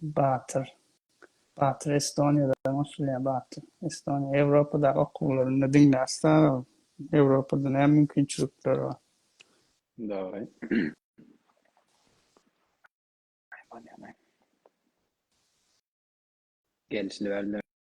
Batyr. Batyr Estoniýadan goşulýar Batyr. Estoniýa Ýewropadaky okuwlarynda diňle Astara Ýewropada näme mümkinçilikler bar. Dogry. Gelşiler.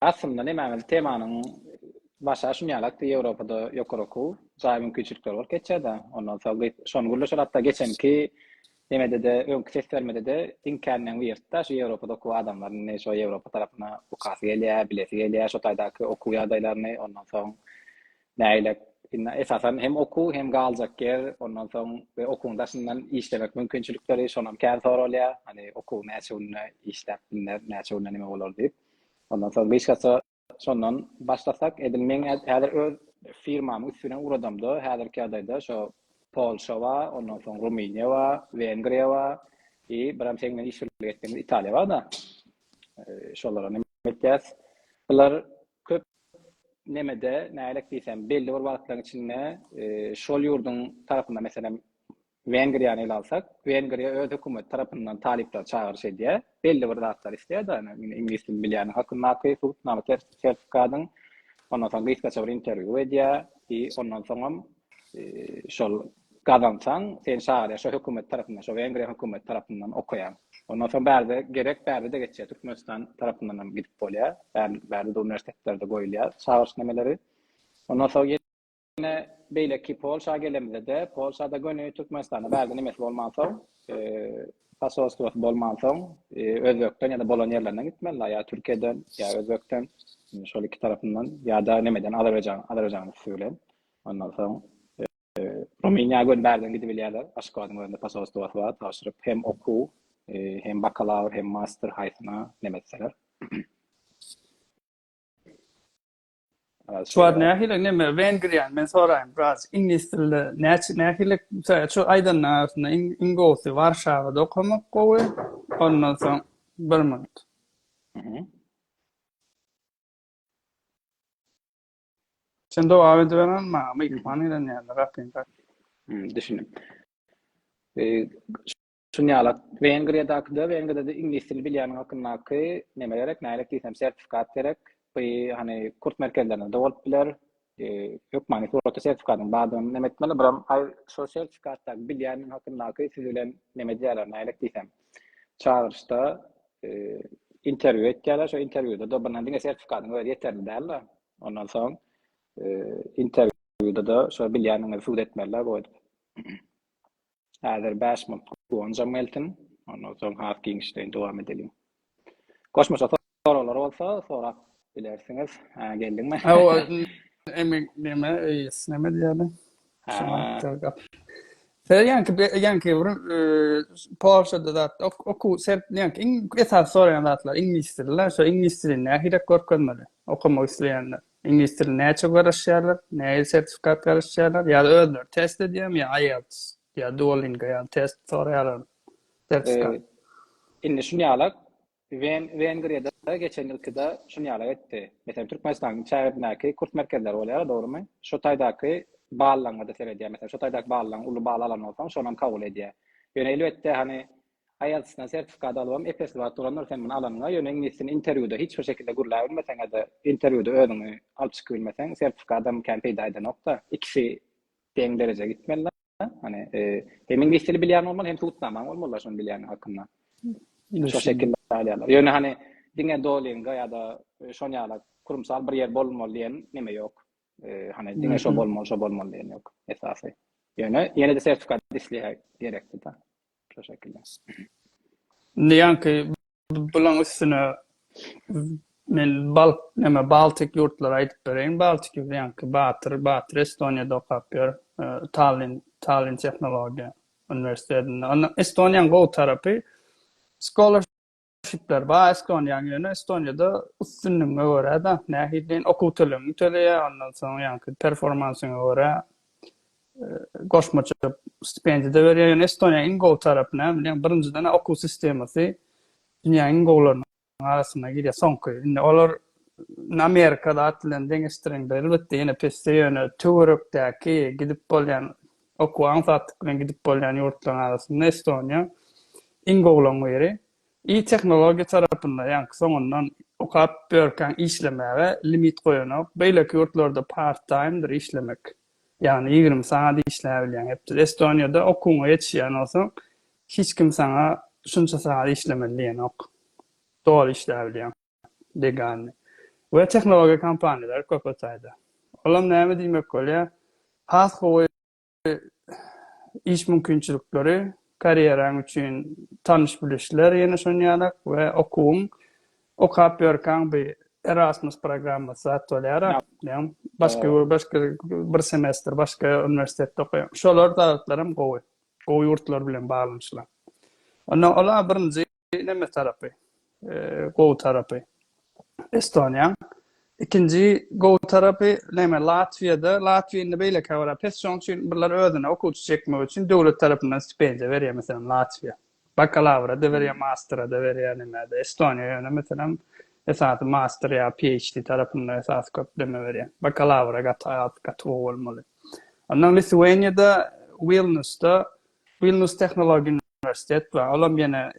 Aslynda nämäňiz temanyň başy a şuny ýalakdy Ýewropada ýokary okuw jaý mümkinçilikleri bolup geçýärdi ondan soň gyz şony gürleşer hatda geçenki nemedede öňki ses bermedede iň känleň wirtda şu Ýewropada okuw adamlaryny ne şo Ýewropa tarapyna okasy gelýä bilesi gelýä şo taýdaky okuw ýagdaýlaryny ondan soň nägile indi esasan hem okuw hem galjak ýer ondan soň we okuwyň daşyndan işlemek mümkinçilikleri şonam kän soralýa hani okuw näçe günde işläp bilner näçe günde nime bolar diýip. Ondan soň gyşgasa şondan başlasak, edil meň häzir öz firmamy üstüne ugradamda, häzirki ýagdaýda şo Polşa bar, ondan soň Rumyniýa bar, Wengriýa bar, i biram seň bilen iş birlik etdigiňiz Italiýa bar-da. Şolara neme etýäs? Bular köp nemede nägilek diýsem, belli bir wagtlaryň içinde şol ýurduň tarapynda, meselem, Wengriýany ele alsak, Wengriýa öz hökümeti tarapyndan talyplary çagyryş edýär, belli bir zatlary isleýär-de, ýöne iňlis dilini bilýäniň hakyndaky subutnama, sertifikadyň, ondan soň gysgaça bir interwýu edýär, i ondan soňam şol gazansaň, seni çagyrýar, şo hökümet tarapyndan, şo Wengriýa hökümeti tarapyndan okaýaň. Ondan soň bärde gerek, bärde-de geçýär, Türkmenistan tarapyndan hem gidip bolýar, bärde-de uniwersitetlerde goýulýar çagyryş nemeleri. Ondan soň. Ýene beýleki Polşa gelemizde-de, Polşada göni Türkmenistanda bärde nemesi bolmansoň, posolstwosy bolmansoň, Özbekden ýa-da bolan ýerlerinden gitmelidir, ýa Türkiýeden, ýa Özbekden, şol iki tarapyndan, ýa-da nemeden, Azerbaýjan, Azerbaýjanyň üsti bilen. Ondan soň, Rumyniýa göni bärden gidibilýärler, Aşgabadyň özünde posolstwosy bar, tabşyryp hem okuw, hem bakalawr, hem master haýsyna nem etseler. Şu wagt nähili neme Wengriýa men soraýyn biraz iňlis dilde näçe nähili şu aýdanyň arasynda iň iň gowusy Warşawada okamak gowy ondan soň bir minut. Sen dowam edip beren maňa mikrofon gelen ýerde gapyň. Düşündim. Çynýalat. Wengriýadaky-da, Wengriýada-da iňlis dilini bilýäniň hakyndaky neme gerek, nälik diýsem, sertifikat gerek. Bu, hany, kurs merkezlerinde-de bolup biler. Hökmany suratda sertifikatyň bardygyny neme etmeli. Buram, aý, şol sertifikatdaky bilýäniň hakyndaky siz bilen neme edýärler, nälik diýsem, çagyryşda interwýu etýärler. Şol interwýuda-da bir diňe sertifikatyňy öz ýeterli däl-de. Ondan soň interwýuda-da şo bilýäniňizi subut etmeli-dä bu edip. Häzir bäş munt gonjam gelsin. Ondan soň has giňişleýin dowam edeliň. Goşmaça soraglar bolsa sorap bilersiňiz. Hä, geldiňmi? Ha, o emin näme, eýs näme diýýärler? Ha. Sen ýaňky ýaňky bir Polşada zat okuw sen ýaňky iň esasy soraýan zatlar iňlis dili-le, şo iňlis dilini nähilek görkezmeli okamak isleýänler? Iňlis dilini näçe garaşýarlar, näil sertifikat garaşýarlar, ýa özleri test edýärmi, ýa IELTS, ýa Duolingo ýaly test soraýarlarmy, sertifikat? Indi şuny alak, Wen, Wengriýada geçen ýylkyda şuny ýalak etdi. Meselem, Türkmenistanyň çägindäki kurs merkezleri bolýar, dogrymy? Şo taýdaky ballaňa-da seredýär. Meselem, şo taýdaky ballaň uly bal alan bolsaň, şonam kabul edýär. Ýöne elbetde, hany, IELTS-den sertifikat alybam ep-esli wagt bolandyr sen muny alanyňa, ýöne iňlisini interwýuda hiç bir şekilde gürläbilmeseňe-de, interwýuda özüňi alyp çykyp bilmeseň, sertifikadam kän peýda edenok-da. Ikisi deň derejä gitmeli-dä. Hany, hem iňlis dili bilýän bolmaly, hem subutnamaň bolmaly-da şony bilýäniň hakynda. Şo şekilde alýarlar. Ýöne hany, diňe Duolingo ýa-da şon ýala kurumsal bir ýer bolmaly diýen neme ýok. Hany, diňe şo bolmaly, şo bolmaly diýen ýok esasy. Ýöne ýene-de sertifikat isleýär, gerekli-dä. Teşekkürler. Indi ýaňky bulaň üstüne men bal näme Baltik ýurtlary aýdyp bereýin. Baltik ýurtlary ýaňky Batyr, Batyr Estoniýada okap ýör. Tallin, Tallin tehnologiýa uniwersitetinde. Onda Estoniýanyň gowy tarapy scholarship Tipler bar, Estoniýaň ýöne Estoniýada üstünligiňe görä-de, nähili diýen okuw tölegini töleýär, ondan soň ýaňky performansyňa görä goşmaça stipendiýa-da berýär. Ýöne Estoniýanyň iň gowy tarapy näme diýseň, birinjiden okuw sistemasy dünýäniň iň gowularynyň arasyna girýär, soňky. Indi olar Amerika zat bilen deňeşdiriňde elbetde ýene pesde, ýöne töwerekdäki gidip bolýan Okuwa aňsatlyk bilen gidip bolýan ýurtlaryň arasynda Estoniýa iň gowularyň biri. I tehnologiýa tarapynda ýaňky soňundan okap börkäň işlemäge limit goýanok. Beýleki ýurtlarda part taýmdyr işlemek. Ýagny ýigrimi sagat işläbilýäň hepde. Estoniýada okuwyňa ýetişýän bolsaň hiç kim saňa şunça sagat işlemeli diýenok. Doly işläbilýäň. Degani. We tehnologiýa kompaniýalary köpet saýda. Olam näme diýmek bolýar? Has gowy iş mümkinçilikleri, karýeraň üçin tanyş-bilişler ýene şonýalak we okuwyň okap ýörkäň bi Erasmus programmasy zat bolýara. Ýa başga başga bir semestr başga uniwersitetde okaýaň. Şolar zatlaram gowy. Gowy ýurtlar bilen baglanyşylan. Onda ola birinji Nemes tarapy gowy tarapy Estoniýaň. Ikinji gowy tarapy näme Latwiýada. Latwiýa indi beýlekä görä pes. Şonuň üçin birler özüne okuwçy çekmek üçin döwlet tarapyndan stipendiýa berýär. Meselem, Latwiýa. Bakalawra-da berýär, mastera-da berýär, nimädä. Estoniýa ýöne meselem esasy master ýa PHD tarapynda esasy köp näme berýär. Bakalawra gaty az, gaty gowy bolmaly. Ondan Lituweniýada Wilnusda, Wilnus tehnologin. uniwersitet bar, olam ýene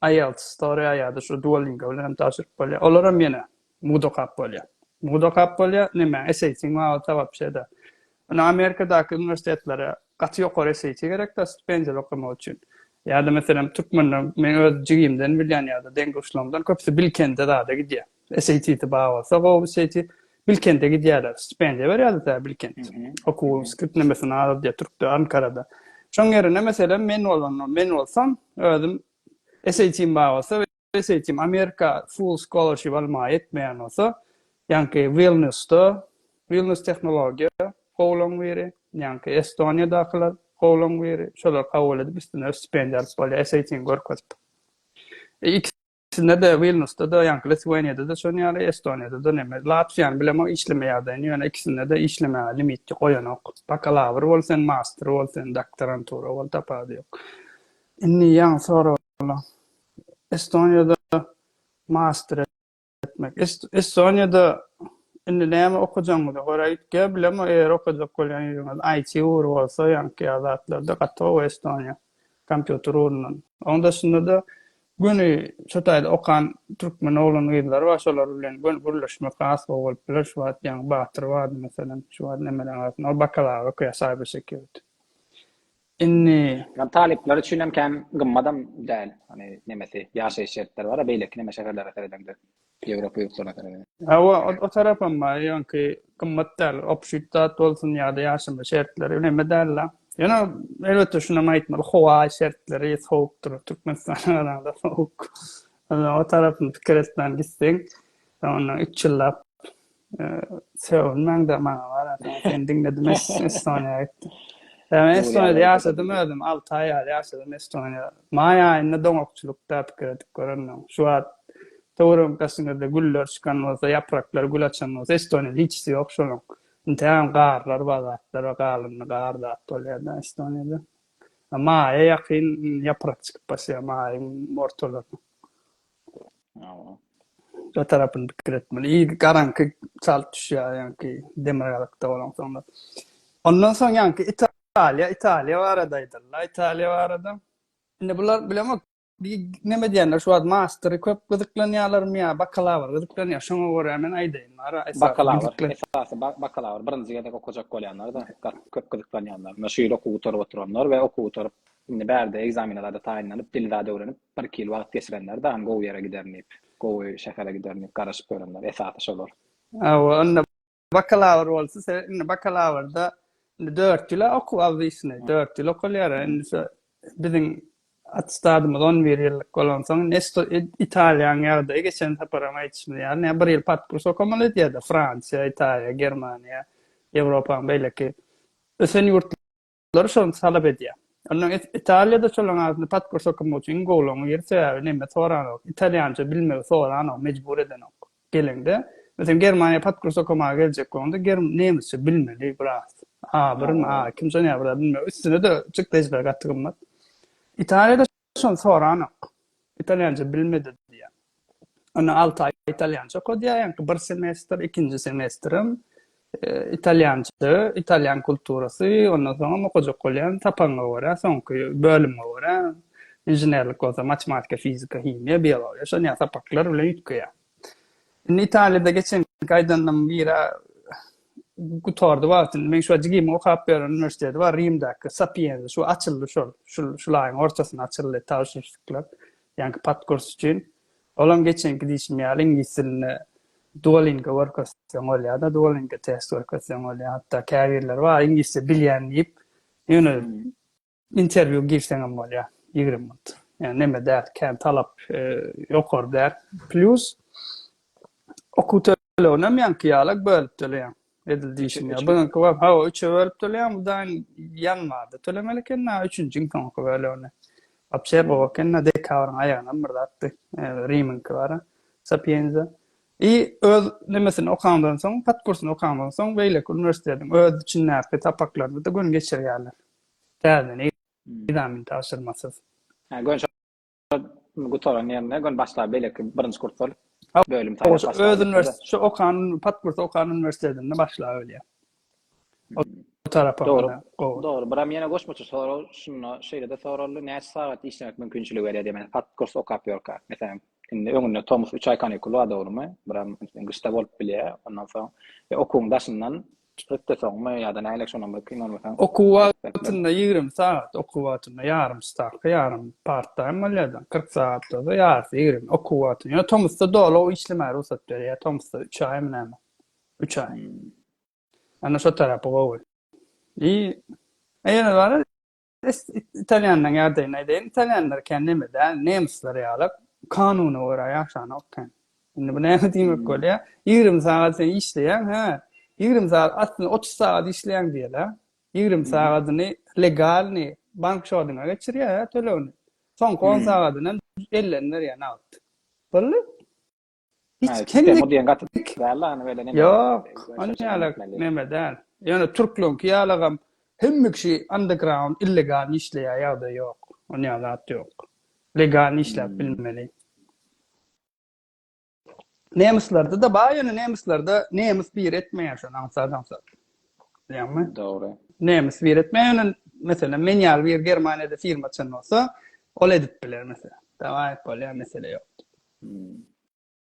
IELTS, Storia ýa-da şu Duolingo bilen hem tabşyryp bolýar. Olaram ýene mugt okap bolýar. Mugt okap bolýar, näme, SAT-iň wagta wapşe-de. Indi Amerikadaky uniwersitetlere gaty ýokary SAT gerek-dä stipendiýaly okamak üçin. Ýa-da meselem türkmende meň öz jigimden bilýän ýa-da deň-duşlarymdan köpüsi Bilkende zada gidýär. SAT-si bar bolsa, gowy SAT, Bilkente gidýärler. Stipendiýa berýärdi tä Bilkent. Okuw skriptlemesini alar diýe Türkde, Ankarada. Şoň ýerine meselem men bolan, men bolsam özüm SAT-im bar bolsa, SAT-im Amerika full scholarship almaga ýetmeýän bolsa, ýaňky Wilnýusda, Wilnýus tehnologiýa gowulaň biri, ýaňky Estoniýadakylar gowulaň biri, şolar kabul edip üstüne stipendiýa alyp bolýar, SAT-ni görkezip. Sinde-de, Wilnusda-da, ýaňky Lithuaniýada-da şon ýaly, Estoniýada-da, neme, Latwiýany bilemok, işlemeýärdi, ýöne ikisinde-de işlemäge limit goýanok. Bakalawr bol sen, master bol sen, doktorantura bol, tapawudy ýok. Indi ýaňy soraglar. Estoniýada master etmek. Estoniýada indi näme okajagyňyza görä gitge, bilemok, eger okajak bolýan ýeriňiz IT ugry bolsa, ýaňky ýaly zatlarda gaty gowy Estoniýa, kompýuter ugrundan. Onuň daşynda-da, Göni şu taýda okan türkmen oglan-gyzlary bar, şolar bilen göni gürleşmek has gowy bolup biler, şu wagt ýaňy Batyr bardy, meselem, şu wagt Emel agasyn, ol bakalaura okaýar, saýbersekýurity. Indi. Ýa talyplar üçin hem kän gymmadam däl, hany nemesi, ýaşaýyş şertleri bar-a, beýleki neme şäherlere seredeňde. Ýewropa ýurtlaryna garaýan. Hawa, o tarapam bar, ýöňki gymmat däl, obşit zat bolsun ýa-da ýaşama şertleri üleme däl-le. Ýöne, elbetde, şunam aýtmaly, howa şertleri sowukdyr, Türkmenistana garanda sowuk. O tarapyny pikir etmän gitseň, ondan üç ýyllap Sögünmäň de maňa barata seni diňledim Estoniýa gitdim. Ýa men Estoniýada ýaşadym özüm alty aý ýaly ýaşadym Estoniýa. Maý aýynda doňakçylykda pikir edip görendim. Şu wagt töwerek daşyňyzda güller çykan bolsa ýapraklar gül açan bolsa Estoniýa hiçisi ýok şonuň. Intägem garlar bar zatlar bar galyndy gar zat bol ýerde Estoniýada. Maýa ýakyn ýaprak çykyp başlaýar maýyň ortalarynda. Şu tarapyny pikir etmeli. İyi garanky çalt düşýär, ýaňky demirgazykda bolan soňlar. Ondan soň ýaňky Italiýa, Italiýa barada aýdalylar, Italiýa barada. Indi bular bilemok, bir neme diýenler, şu wagt mastery köp gyzyklanýarlarmy ýa bakalawr gyzyklanýar, şoňa görä men aýdaýyn. Ara esasy Bakalawr, gyzyklan- esasy ba- bakalawr, birinji gezek okajak bolýanlar-da gat köp gyzyklanýanlar. Şu ýyl okuw gutaryp oturanlar we okuw gutaryp Indi bärde ekzamene zada taýynlanyp, dili zada öwrenip, bir-iki ýyl wagt geçirenler dagyň gowy ýere giderin diýip, gowy şähere giderin diýip garaşyp ýörenler, esasy şolar. Hawa, onda bakalawr bolsa, sebäp indi bakalawrda indi dört ýyl-a okuw obwisnýi, dört ýyl okalýar, a indi şo biziň attestadymyz on bir ýyllyk bolansoň, ne sto Italiýanyň ýagdaýy, geçen saparam aýdyşymyz ýaly, ne bir ýyl podkurs okamaly edýär-de, Fransiýa, Italiýa, Germaniýa, Ýewropanyň beýleki ösen ýurtla. Lar şony talap edýär. Onda Italiýada şolaň adyny pasport okumag üçin iň gowulagyň ýeri sebäbi neme soranok, italýança bilmegi soranok, mejbur edenok. Geleňde, meselem Germaniýa pasport okamaga geljek bolanda ger nemisçe bilmeli biraz. A birmi, A ikimi şony ýa biraz bilmeli. Üstüne-de çykdajylar gaty gymmat. Italiýada Şony soranok. Italýança bilmedi diýýär. Onda alty aý italýança okadýar, ýaňky bir semestr, ikinji semestrem italýança, italýan kulturasy, ondan soňam okajak bolýan tapanyňa görä, soňky bölümiňe görä, inženerlik bolsa matematika, fizika, himiýa, biologiýa, şon ýaly sapaklar bilen üýtgeýär. Indi Italiýada geçenki aýdanlaryň biri gutardy wagtyny. Men şu jigimiň okap ýören uniwersiteti bar Rimdäki Sapienza şu açyldy şol. Şu şu aýyň ortasynda açyldy tabşyryşyklar. Ýaňky podkurs üçin. Olam geçenki diýşim ýaly iňlis dilini Duolingo görkezseň bolýar-da, Duolingo test görkezseň bolýar. Hatda käbirleri bar iňlisçe bilýän diýip, ýöne Interview girseňem bolýa ýigrimi minut. Ýagny neme däl, kän talap ýokary däl. Plyus okuw töleginem ýaňky ýala bölüp töleýäň. Edil diýşim ýaly. Bu ýaňky wagt hawa üçe bölüp töleýäň, bu daýn ýanwarda tölemeli eken, a üçünjiň soňky bölegini. Wapşe gowy eken, a dekabryň aýagynam bir zatdy. Rimiňki bar-a, Sapienza. I öz nemesini okaňdan soň, podkursyny okaňdan soň beýleki uniwersitetiň öz içindäki sapaklaryny-da göni geçirýärler. Täze Nizami tabşyrmasyz. Hä gön şo gutaran ýerinde gön başga beleki birinji kurslar bölüm saýlap başlap Öz uniwersiteti şo okan patkurs okan uniwersitetinde başlap ölýär. O tarapa Dogry. Dogry. Biram ýene goşmaça sorag şunda şeýlede soraldy näçe sagat işlemek mümkinçiligi berýär diýip men patkurs okap ýörkä. Meselem indi öňünde tomus üç aý kanikul bar dogrymy? Biram gyşda bolup bilýär ondan soň okuwyň daşyndan Çykypdy soňmy ýa-da nälik şonam bir kynalmasaň. Okuw wagtynda ýigrimi sagat, okuw wagtynda ýarym stavka, ýarym part taým bolýada, kyrk sagat bolsa ýarysy ýigrimi, okuw wagtynda. Ýöne tomusda doly işlemäge rugsat berýär, tomusda üç aýmy näme, üç aý. Ýöne şo tarapy gowy. I ýene bar. Italýanlaryň ýagdaýyny aýdaýyn. Italýanlar kän neme däl, nemsler ýalak, kanuna görä ýaşanok kän. Indi bu näme diýmek bolýar? 20 sagat sen işleýäň, hä? 20 sagat, aslynda 30 sagat işleýäň diýeli. 20 sagadyny legalny bank şodyňa geçirýär tölegini. Soňky 10 sagadyny hem elden berýär nagt. Boldy? Hiç Ýok, ony ýaly neme däl. Ýöne türkleriňki ýalygam hemme kişi underground illegal işleýär ýagdaý ýok. Ony ýaly zat ýok. Legal işläp bilmeli. Nemislerdi-de bar, ýöne nemislerde nemis bir etmeýär şony aňsat aňsat. Bilýäňmi? Dogry. Nemis bir etmeýär, ýöne meselem men ýaly bir Germaniýada firma açan bolsa, ol edip biler meselem. Dawaý, bolýar mesele ýok.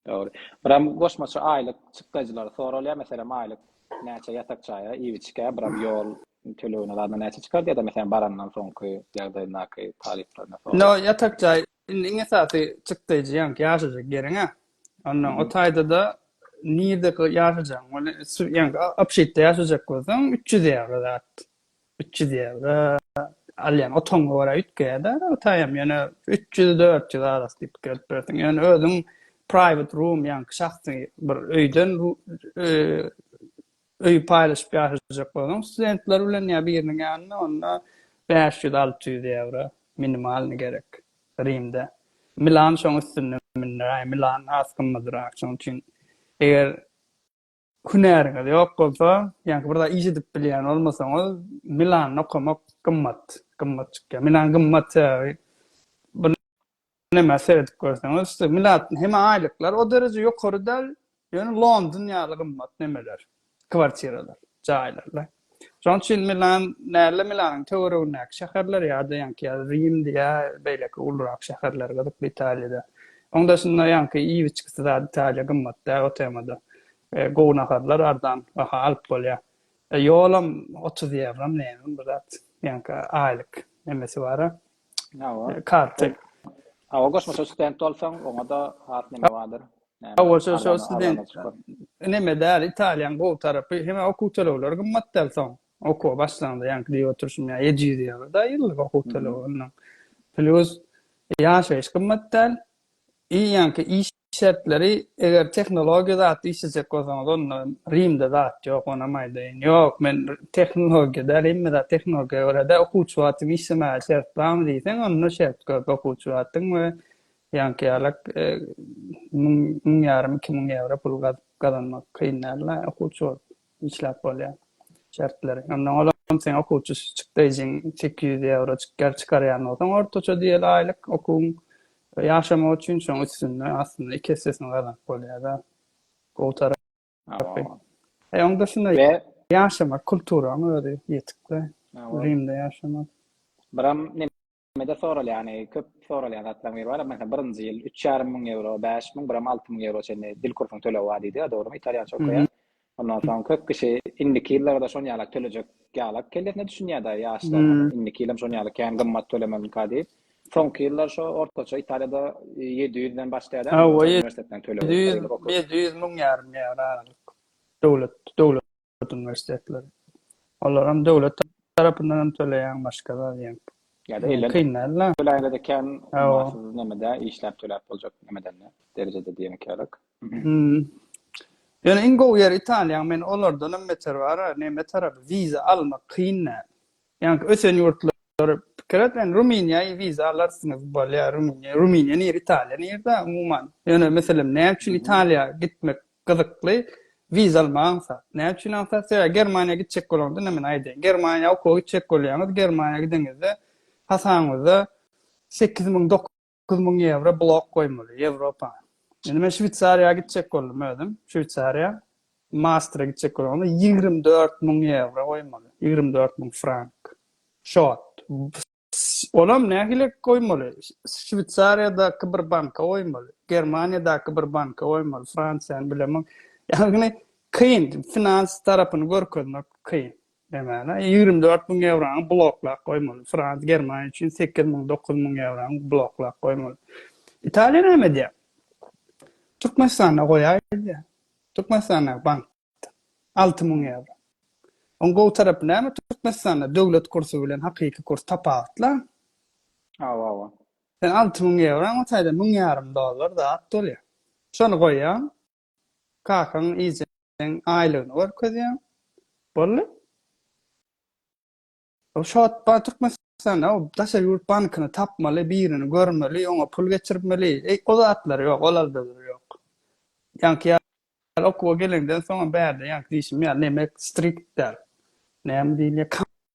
Dogry. Biram goşmaça aýlyk çykdajylary soralýar. Meselem, aýlyk näçe ýatak jaýa, iýip-içgä, biram ýol tölegine zadna näçe çykar diýýär-de, meselem, barandan soňky ýagdaýyndaky talyplaryna sorag. No, ýatak jaý indi iň esasy çykdajy ýaňky ýaşajak ýeriň-ä. Onnoň o taýda-da nirdeki ýaşajagyň, ony ýaňky obşitde ýaşajak bolsaň, üç ýüz ýaly zat. Üç ýüz ýewro alýan otagyňa görä üýtgeýär-de hytaýam, ýöne üç ýüz, dört ýüz arasy diýip gelip bilersiň. Ýöne özüň private room, ýaňky şahsy bir öýden öýi paýlaşyp ýaşajak bolsaň studentler bilen ýa biriniň ýanynda, onda bäş ýüz, alty ýüz ýewro minimalny gerek Rimde. Milan şoň üstünde münderäý, Milan has gymmadyrak, şoň üçin eger Hünäriňiz ýok bolsa, ýa-da bir zat iş edip bilýän bolmasaňyz, Milanda okamak gymmat, gymmat çykýar. Milan gymmat sebäbi Näme seredip görseňiz, Milatn hem aýlyklar o dereje ýokary däl, ýöne London ýaly gymmat nemeler, kwartiralar, jaýlar. Şonuň üçin Milan däl-de, Milanyň töweregindäki şäherler ýa-da ýaňky ýa Rimdi ýa beýleki ulurak şäherler gyzykly Italiýada. Oň daşynda ýaňky iýip-içgisi zat Italiýa gymmat däl o temada. Gowy naharlar arzan baha alyp bolýar. Ýolam otuz ýewromy nämemi bir zat. Ýaňky aýlyk nemesi bar-a. Hawa. Karty. Hawa, goşmaça student bolsaň, oňa-da has neme bardyr. Hawa, şo-şo student. Neme däl, Italiýanyň gowy tarapy, hem okuw tölegleri gymmat däl soň. Okuwa başlanyňda, ýaňky diýip oturyşym ýaly, ýedi ýüz ýewro-da ýyllyk okuw tölegi onnoň. Plýus ýaşaýyş gymmat däl. I ýaňky iş. Şertleri eger tehnologiýa zat işlejek bolsaňyz onda Rimde zat ýok onam aýdaýyn. Ýok men tehnologiýa däl hemme zat tehnologiýa görede okuwçy wagtym işlemäge şert barmy diýseň onda şert köp okuwçy wagtyň we ýaňky ýalak müň müň ýarym iki müň ýewro pul gazanmak kyn däl okuwçy bolup. işläp bolýar şertleri. Ondan olam sen okuwçy çykdaýjyň sekiz ýüz ýewro çykýar çykarýan bolsaň ortaça diýeli aýlyk okuwyň ýaşamak üçin şoň üstünde aslynda iki essesini gazanyp bolýada gowy tarapy e oň dysynda ýaşamak kulturaň özi ýetikde rimde ýaşamak biram Türkmenlerimizde soralýany, köp soralýan zatlaryň biri bar, meselem, birinji ýyl üç ýarym müň ýewro, bäş müň, biram alty müň ýewro çenli dil kursuň tölegi bar diýdiga, dogrumy, italýança okaýan. Ondan soň köp kişi indiki ýyllarda şon ýalak tölejek ýalak kellesine düşünýärda ýaşlaň hany indiki ýyl hem şon ýaly kän gymmat tölemelinka diýip. Soňky ýyllar şo ortaça Italiýada ýedi ýüz den başlaýada ýa-da uniwersitetden tölegi. Ýedi ýüz, ýedi ýüz müň ýarym ýewro aralyk. Döwlet, döwlet. döwlet uniwersitetleri. Olar hem döwlet tarapyndan hem töleýäň, başga zat ýeň. Ýa-da eýle. Kyn däl-le. Töläýler eken, ummasyz nemede işläp töläp boljak nemedende, derejede diýen ekälik. Ýöne iň gowy ýeri Italiýa, men olardan hem beter bar-a, neme tarapy, wiza almak kyn däl. Ýaňky ösen ýurtlar pikir et men ruminiýa wiza alarsyňyz bolýa ruminiýa ruminiýa nir italiýa nirde umuman ýöne meselem näme üçin italiýa gitmek gyzykly wiza almak aňsat näme üçin aňsat sebäbi germaniýa gitjek bolaňyzda ine men aýdaýyn germaniýa okuwa gitjek bolýaňyz germaniýa gideňizde hasabyňyzda sekiz müň Dokuz müň ýewro blok goýmaly, Ýewropa. Indi men Şweýsariýa gitjek boldum özüm, Şweýsariýa. Maastra gitjek boldum, onda ýigrimi dört müň ýewro goýmaly, ýigrimi dört müň frank. Şot. Olam nähili goýmaly? Şweýsariýadaky bir banka goýmaly, Germaniýadaky bir banka goýmaly, Fransiýany bilemok. Ýagny kyn, finans tarapyny görkezmek kyn. Nämäni? Ýigrimi dört müň ýewrony bloklap goýmaly. Fransiýa, Germaniýa üçin sekiz müň, dokuz müň ýewrony bloklap goýmaly. Italiýa näme edýär? Türkmenistanda goýaý diýýär. Türkmenistandaky bankda alty müň ýewro. Oň gowy tarapy näme? Türkmenistanda döwlet kursy bilen hakyky kurs tapawutla. Hawa, hawa. Sen alty müň ýewroň o taýda müň ýarym dollar zat bolýar. Şony goýýaň. Kakaň ejäň aýlygyny görkezýäň. Boldy. O şot bar Türkmenistanda o daşary ýurt bankyny tapmaly, birini görmeli, oňa pul geçirmeli. Eý, o zatlar ýok, olarda ýok. Ýaňky ýa okuwa geleňden soňam bärde ýaňky diýşim ýaly neme strikt däl. Näme diýilýär?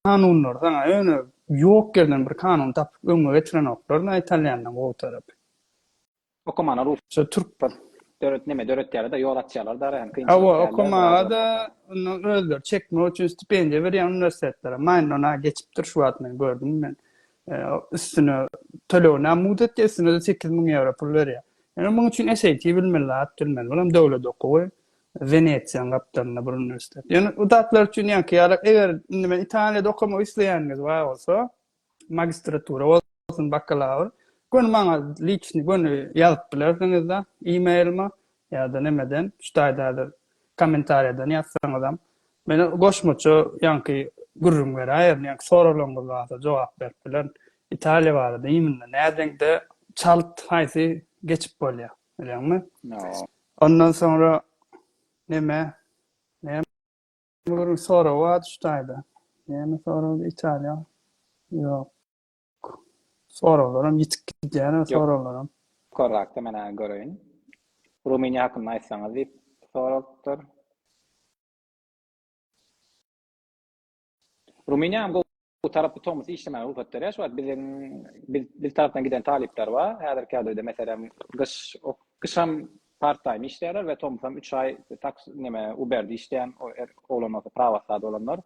Kanunlar saňa ýöne ýok ýerden bir kanun tapyp öňüňe getirenoklar-da italýanlaryň gowy tarapy. Okomana rus. Şu türk bir döret neme döretýärler-de, ýol açýarlar-da ara hem kynçylyk Hawa, däldir, biraz zor. okomada indi özleri çekmek üçin stipendiýa berýän uniwersitetler-ä Mainnona geçipdir şu wagt men gördüm men. Üstüne tölegini hem muzetdi, üstüne-de sekiz müň ýewro pul berýär. Ýöne munuň üçin SAT bilmeli, lat bilmeli. Ol hem döwlet okuwy, Wenesiýanyň gapdalynda bir uniwersitet. Ýöne o zatlar üçin ýaňky ýaly eger indi men Italiýada okamak isleýäniňiz bar bolsa, magistratura bolsun bakalawr göni maňa liçni göni ýazyp bilersiňizda emailma ýada nemeden şu taýda häzir kommentariýadan ýazsaňyzam men goşmaça ýaňky gürrüň beräýerin ýaňky soraglaryňyz barada jogap berip bilerin italiýa barada imенно nädeňde çalt haýsy geçip bolýa bilýäňmi ondan soňra neme Bularyň soragy bar şu taýda. Näme soragdy Italiýa? Ýok. Soraglaram ýitip gidýär o soraglaram. Ýokarrakda men hany göreýin. Rumyniýa hakynda aýtsaňyz diýip sorapdyr. Rumyniýam gowy. Bu tarapy tomus işlemäge rugsat berýär. Şu wagt biziň biz biz tarapdan giden talyplar bar. Häzirki ýagdaýda meselem gyş ok gyşam part time işleýärler we tomusam 3 aý taks neme Uber-de işleýän o er oglan bolsa prawaslada bolanlar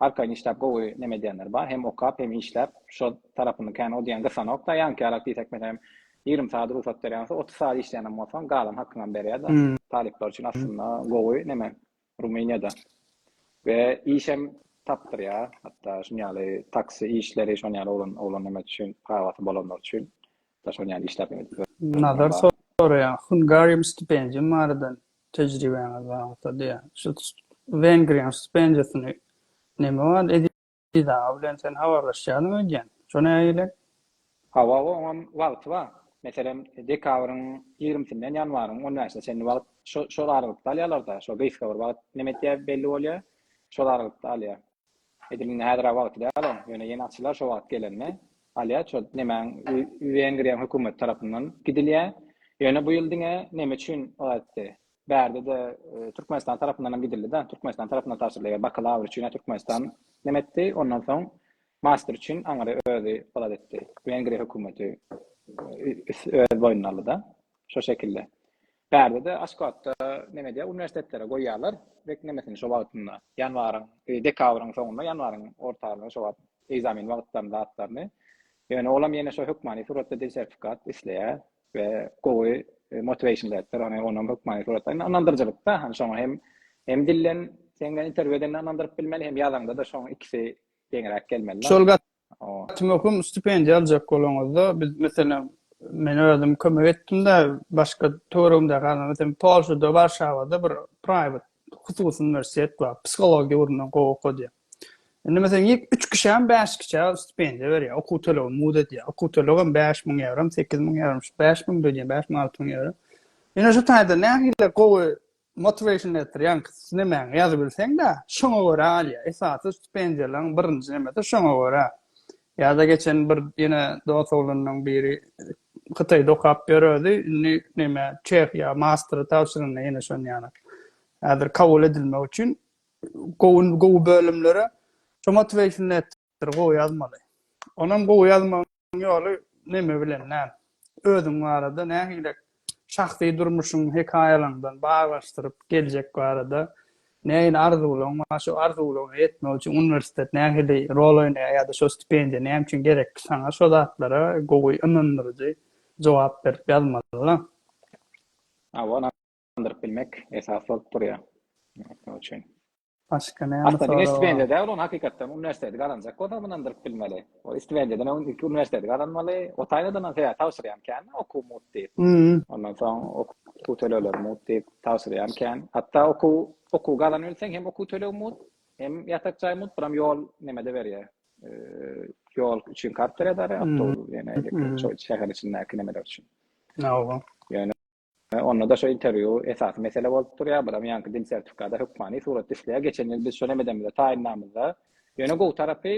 arkaýyn işläp gowy neme edýänler bar. Hem okap hem işläp şo tarapyny kän o diýen gysanokda. Ýaňkyýarak diýsek meselem ýigrimi sagat rugsat berýän bolsa otuz sagat işleýänem bolsaň galan hakyňam berýärdi. Talyplar üçin aslynda gowy neme. Rumyniýada we işem tapdyrýar, hatda şuny ýaly taksi işleri, şony ýaly oglan oglan näme üçin prawaty bolanlar üçin da şony ýaly işläp ýörler. Nazar soraýar, Hungarium stipendiýam barada tejribäňiz bar bolsa diýýär. Şu Wengriýanyň stipendiýasyny näme barada? Biz aga bilen sen habarlaşýalyň öýdýän. Şo näge gelen? Hawa, oňam wagty bar. Meselem, dekabryň ýigrimisinden ýanwaryň on bäşine çenli wagt şo, şol aralykda alýarlar-da. Şo gysga bir wagt neme etýär belli bolýar. Şol aralykda alýar. Edil indi häzir-ä wagty däl oň. Ýöne ýene açylar şo wagt gelende. Alýar şo nemäň we, wengriýaň hökümeti tarapyndan gidilýär. Ýöne bu ýyl diňe neme üçin o ätdi? Bärde-de Türkmenistan tarapyndan hem gidildi-de. Türkmenistan tarapyndan tabşyryldy. Eger bakalawr üçin ýa Türkmenistan neme etdi, ondan soň master üçin aňry özi ylat etdi. Wengriýa hökümeti öz boýnuna aldy-da. Şo şekilde. Bärde-de Aşgabatda neme edýär, uniwersitetlere goýýarlar rek nemesini şo wagtynda, ýanwaryň, dekabryň soňunda, ýanwaryň ortalarynda şo wagt ekzamen wagtlaryny, zatlaryny. Ýöne olam ýene şo hökmany suratda dil sertifikat isleýär. we gowy motivation beripdir ony onam hökmany suratda ynandyrjylykda hani şoňa hem hem dillen sen bilen intervýu edende ynandyryp bilmeli hem ýazanda da şoň ikisi deňräk gelmeli şol gat möhüm stipendiýa aljak bolaňyzda biz meselem men özüm kömek etdimde başga töweregimdäki adamlar sen polşada warşawada bir private hususy uniwersitet bar. Psihologiýa ugrundan gowy okadýar. Indi meselem ilk üç kişäm bäş kişä stipendiýa berýär, okuw tölegini mugt edýär. Okuw tölegem bäş müň ýewrom, sekiz müň ýewrom, şu bäş müň dödýär, bäş müň, alty müň ýewro. Ine şu taýda nähili gowy motivation letter, ýagny nemäňi ýazybilseň-de, şoňa görä alýar. Esasy stipendiýalaryň birinji nemesi şoňa görä. Ýada geçen bir ýene dos oglanlaň biri Hytaýda okap ýöredi, indi näme Çehiýa mastery tabşyranda ýene şon ýaly. Häzir kabul edilmek üçin gowy gowy bölümlere şu motivation letter gowy ýazmaly. Onam gowy ýazmagyň ýoly näme bilen näme? Özüň barada nähilek Şahsy durmuşyň hekaýalaňdan baglaşdyryp geljek barada nähili arzuwlaň bar? Şo arzuwlaňa ýetmek üçin uniwersitet nähili rol oýnaýar ýa-da şo stipendiýa näme üçin gerekli saňa? Şo zatlara gowy ynandyryjy jogap berip ýazmaly. Hawa, ynandyryp bilmek esas bolup durýar. Başga näme Aslynda diňe sorag stipendiýa bar? däl ony hakykatdan uniwersiteti gazanjak bolsaň ynandyrp bilmeli. Ol stipendiýadan öň ilki uniwersiteti gazanmaly. Otaýnadanam sebäbi tabşyrýam kän-de okuw mut diýip. Hum. Ondan soň okuw tölegleri mut diýip tabşyrýam kän. Hatda okuw okuw gazanybilseň hem okuw tölegi mut, hem ýatak jaý mut, buram ýol neme-de berýär. Ýol üçin kart berýär-de arýa, awtobus ýene ýeke şo şäher içindäki nemeler üçin. Hawa. Ýöne. Hä, onda-da şo interwýu esasy mesele bolup durýar, buram ýaňky dil sertifikada hökmany surat düşleýär, geçen ýyl biz şo nemedemize taýynlanymyzda, ýöne gowy tarapy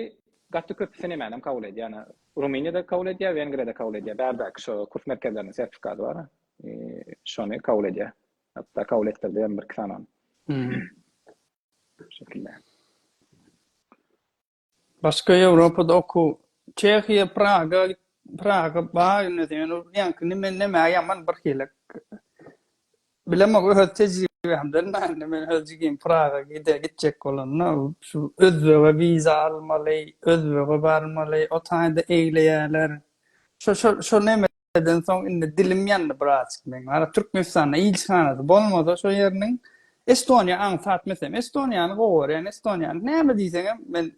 gaty köpi sinemänem kabul edýär, ýa Rumyniýada kabul edýär, Wengriýada kabul edýär, bärdäki şo kurs merkezleriniň sertifikady bar, şony kabul edýär, hatda kabul etdirdi hem birki sanany. Şo şekilde. Başga Ýewropada okuw. Çehiýa, Praga, Praga bar indi sen ol ýaňky nime näme ýaman bir hili. Bilemok öz tejribämden näme indi men öz jigim Praga gide gitjek bolanda şu özbege wiza almaly, özbege barmaly, o taýda egleýärler. Şo şo şo neme Eden soň indi dilim ýandy birazjyk meň. Ara Türkmenistanda ilçihanasy bolmasa şo ýeriniň Estoniýa aňsat mesem Estoniýany gowy görýän Estoniýany näme diýseňem men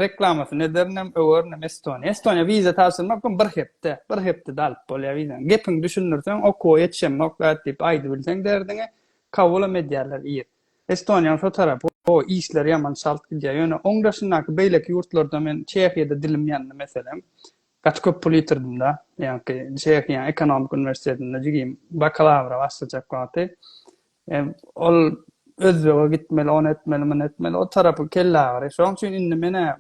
reklamasyny ederinem öwerinem Estoniýa. Estoniýa wiza tabşyrmak üçin bir hepde, bir hepdede alyp bolýar wizany. Gepiňi düşündirseň okuwa ýetişemok dat diýip aýdybilseň derdiňi kabulam edýärler ir. Estoniýanyň şo tarapy o işleri ýaman çalt gidýär. Ýöne oň daşyndaky beýleki ýurtlarda men Çehiýada dilim ýandy meselem. Gaty köp pul ýitirdim-de. Ýaňky Çehiýa ekonomika uniwersitetinde jigim bakalawra başlajak wagty ol Özbege gitmeli, ony etmeli, muny etmeli, o tarapy kelleagyry. Şonuň üçin indi men-ä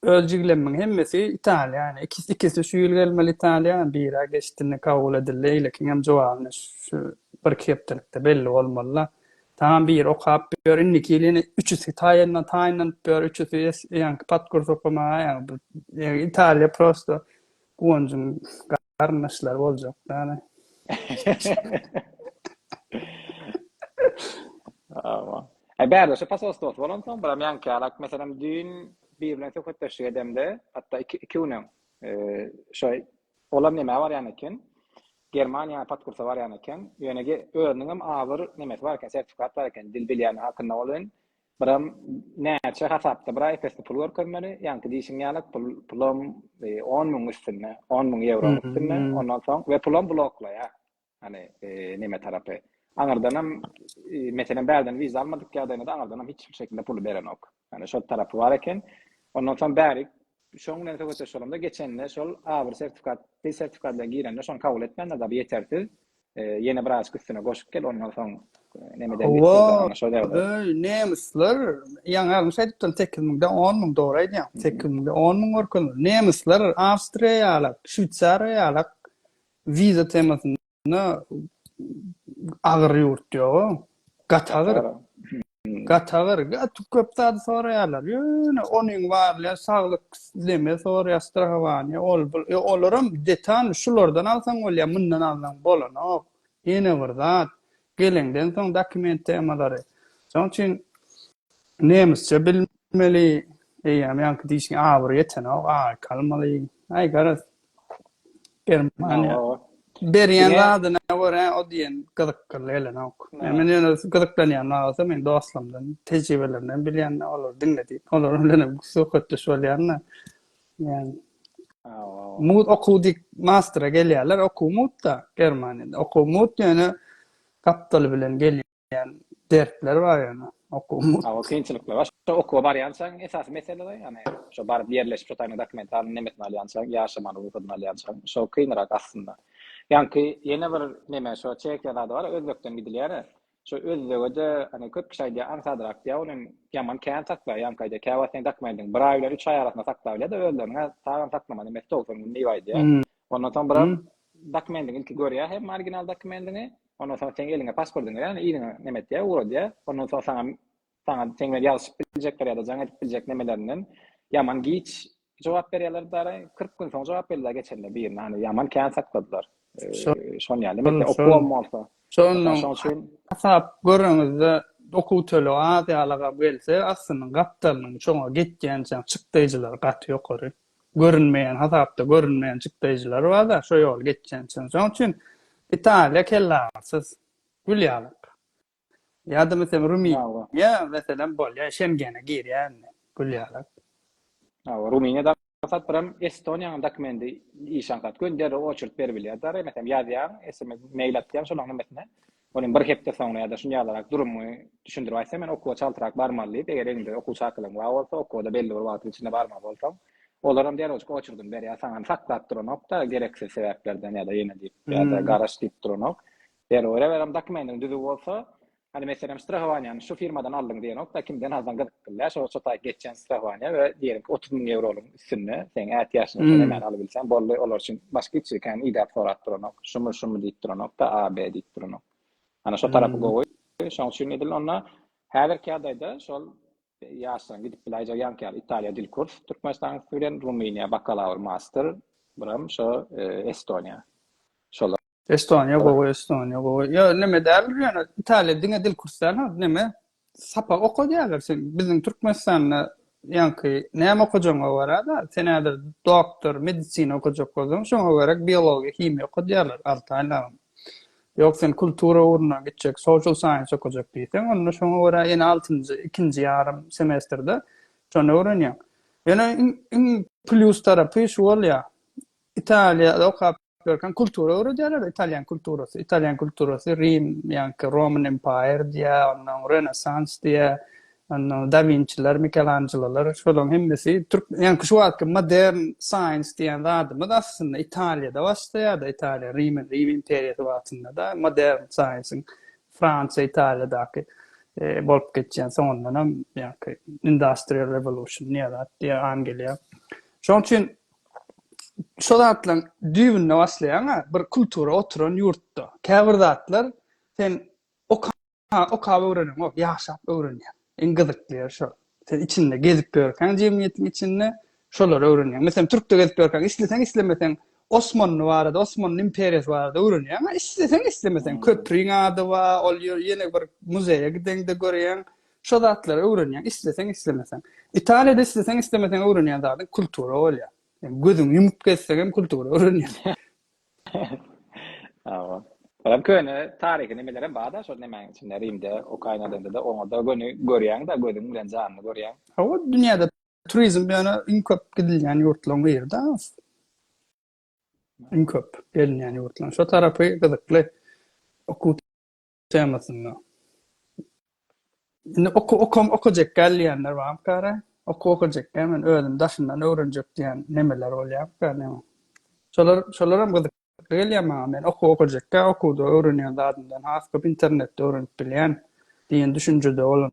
öz jiglemmiň hemmesi Italiýa. Ýani ikisi şu ýyl gelmeli Italiýa, biri-ä geçdi, indi kabul edildi. Eýlekiňem jogabyny şu birki hepdelikde belli bolmaly-la. Tamam biri okap ýör indiki ýyl ýene üçüsi taýyndan taýynlanyp ýör üçüsi ýaňky podkurs okamaga ýa italiýa prosto guwanjyň garyndaşlary boljak ýaly Aman. E bärde şu pasos dost bolan soň biram ýaňky ýalak meselem düýn bir bilen söhbetdeşlik edemde hatda iki iki gün öň e, şo Olar nemä barýan eken? Germaniýa podkursa barýan eken. Ýöne ge özüniňem agyr nemesi bar eken, sertifikat bar eken, dil bilýändigi hakynda welin, biram näçe hasapda bir aý pesli pul görkezmeli, ýaňky diýşiň ýalyk pul, pulam on müň üstünde, on müň ýewroň üstünde, ondan soň we pulam bloklaýar. Hany, neme tarapy? Aňyrdanam, meselem, bärden wiza almadyk ýagdaýynda-da aňyrdanam hiç bir şekilde puly berenok. Hany, şol tarapy bar eken. Ondan soň bäri şoň bilen söhbetdeş bolamda, geçende şol A1 sertifikat, dil sertifikady bilen girende şony kabul etmändirler, bu ýetersiz. Ýene bir azyk üstüne goşup gel, ondan soň neme diýip dursaň, ana şol ýagdaý. Oý, nemisler, ýaňy agzym şeýdip durdy, sekiz müňden on müň, dogry aýdýaň. Sekiz müňden on müň görkezildi. Nemisler, awstriýalar, şweýsariýalar Wiza temasynda agyr ýurt ýoga. Gaty agyr. Gaty agyr. Gaty köp zady soraýarlar. Ýöne onuň barly saglyk deme soraýar, strahowanie, ol bul. E, olaram detal şulardan alsaň bolýar, mundan alsaň bolanok. Ýene bir zat. Geleňden soň dokument temalary. Şoň üçin nemisçe bilmeli, eýýäm ýaňky diýşiň abyry ýetenok, aý kalmaly. Aý garaz. Germaniýa. Berýän zadyna görä o diýen gyzykly gelenok. Men ýöne gyzyklanýan wagty meň dostlarymdan, tejribelerinden bilýän, olary diňledip, olar bilen söhbetdeş bolýan-da. Yani mut okuw dik mastra gelýärler, okuw mutda Germaniýada. Okuw mut ýöne gapdaly bilen gelýän dertler bar ýöne okuw mut. Awa kynçylyklar bar. Şo okuwa barýançaň esasy mesele-de ýani şo baryp ýerleşip şo taýyna dokument alyp nemesini alýançaň ýaşamaly rugudyny alýançaň şo kynrak aslynda. Ýaňky ýene bir neme şo Çehiýa zady bar özbekden gidilýär-ä. Şo özbege-de, hany, köp kişi aýdýar, aňsat rak diýýär, ony hem ýaman kän saklaýýaňka aýdýar, käwagt sen dakmaýdyň. Bir aý bilen üç aý arasynda saklap bilýär-de özlerini-hä, sagam saklamaly emesdi, togsan gün diýip aýdýar. Ondan soň bir adam dokumendiňi ilki görýär hem, original dokumendiňi, ondan soň seň eliňe pasportyňy berýär, ýöne yzyňa neme etýär, ugradýar. Ondan soň saňa Saňa seň bilen ýazyşyp biljekler ýa-da jaň edip biljek nemelerinden ýaman giç jogap berýärler dara. Kyrk gün soň jogap berdiler geçende birine, hany ýaman kän sakladylar. Şon ýaly, meselem okuwam bolsa. Şonda şoň üçin hasap göreňizde okuw tölegi az ýalagam gelse, aslynyň gapdalynyň şoňa gitýänçäň çykdaýjylary gaty ýokary. Görünmeýän hasapda görünmeýän çykdaýjylary bar-da, şo ýoly geçýänçäň. Şoň üçin Italiýa kellagyrysyz, gül ýalak. Ýa-da meselem Rumyniýa meselem bolýar, Şengene girýär indi Gülýarak. Hawa, Rumyniýada aňsat biram Estoniýanyň dokumendi iş aňsat göni derrew oçert berip bilýär. Dara meselem ýazýaň, sms, mail atýaň şolaň hemmesine. Ol hem bir hepde soňra ýa-da şuny ýalyrak durumyňy düşündirip aýtsaň, men okuwa çaltrak barmaly diýip, eger eňde okuw çakylygyň bar bolsa, okuwa-da belli bir wagtyň içinde barmaly bolsaň, olaram derewjik oçerdyny berýär saňa. Saklap duranok-da gereksiz sebäplerden ýa-da ýene diýip, ýa-da garaş diýip duranok. Zerur eberem dokumentin düzüw bolsa Hany meselem strahowaniýany şu firmadan aldyň diýenokda kimden alsaň gyzyk bille şo şu taý geçýän strahowaniýa we diýerik otuz müň ýewroluň üstünde seň ätiýaçlyň üçin hemen alybilseň boldy olar üçin başga hiç zat kän idäp sorap duranok şumy şumy diýip duranokda a b diýip duranok hany şo tarapy gowy şoň üçin edil onda häzirki ýagdaýda şol ýaşlaryň gidip biläýjek ýaňky ýaly italiýa dil kurs türkmenistanyň bilen rumyniýa bakalawr master biram şo estoniýa Estoniýa gowy, Estoniýa gowy. Ýa näme däl ýöne Italiýa diňe dil kursdan ha, näme? Sapak okadýarlar sen. Biziň Türkmenistanda ýaňky näme okajagyňa görä da, sen häzir doktor, medisina okajak bolsaň, şoňa görä biologiýa, himiýa okadýarlar alty aýlap. Ýok, sen kultura ugruna gitjek, social science okajak diýseň, onda şoňa görä ýene altynjy, ikinji ýarym semestrde şony öwrenýäň. Ýöne iň, iň plýus tarapy şu bolýar. Italiýada okap görkem kultura öwredýärler italýan kulturasy italýan kulturasy rim ýa-da roman empire diýä ondan renessans diýä ondan da vinçiler mikelanjelolar şolaryň hemmesi türk ýa-da şu wagtky modern science diýen zadymyz aslynda italiýada başlaýar-da italiýa rim rim imperiýasy wagtynda da modern science-iň fransiýa italiýadaky e, bolup geçýän soňundan hem ýa-da industrial revolution ýa-da diýä an gelýär şonuň üçin şo zatlaryň düýbünde başlaýaň-a, bir kultura oturan ýurtda. Käbir zatlar sen okap öwreneňok, ýaşap öwrenýäň. Iň gyzykly ýeri şo. Sen içinde gezip ýörkäň jemgyýetiň içinde şolary öwrenýäň. Meselem, türkde gezip ýörkäň isleseň-islemeseň Osmanly barada, Osmanly imperiýasy barada öwrenýäň-a, isleseň-islemeseň. Köprüň ady bar, ol ýöne bir muzeýe gideňde görýäň. Şo zatlary öwrenýäň, isleseň-islemeseň. Italiýada isleseň-islemeseň öwrenýän zadyň kultura bolýar. Ýani gözüňi ýumup gezseň hem kultura öwrenýän. Hawa. Olam köne taryhy nemelerem bar-da, şol nemäň içinde Rimde, Ukrainadada-da, oňa-da göni görýäň-de, gözüň bilen janly görýäň. Hawa, dünýäde turizm ýöne iň köp gidilýän ýurtlaryň biri-de. Iň köp gelinýän ýurtlaryň. Şo tarapy gyzykly. Okuw temasynda. Indi oku okam okajak gel diýenler bar kara. Oku okajak gel men özüm daşyndan öwrenjek diýen nemeler bolýar kara. Şolar şolar hem gyzyk gelýär maňa men oku okajak gel okuwda öwrenýän zadymdan has köp internetde öwrenip bilýän diýen düşünjede bolan.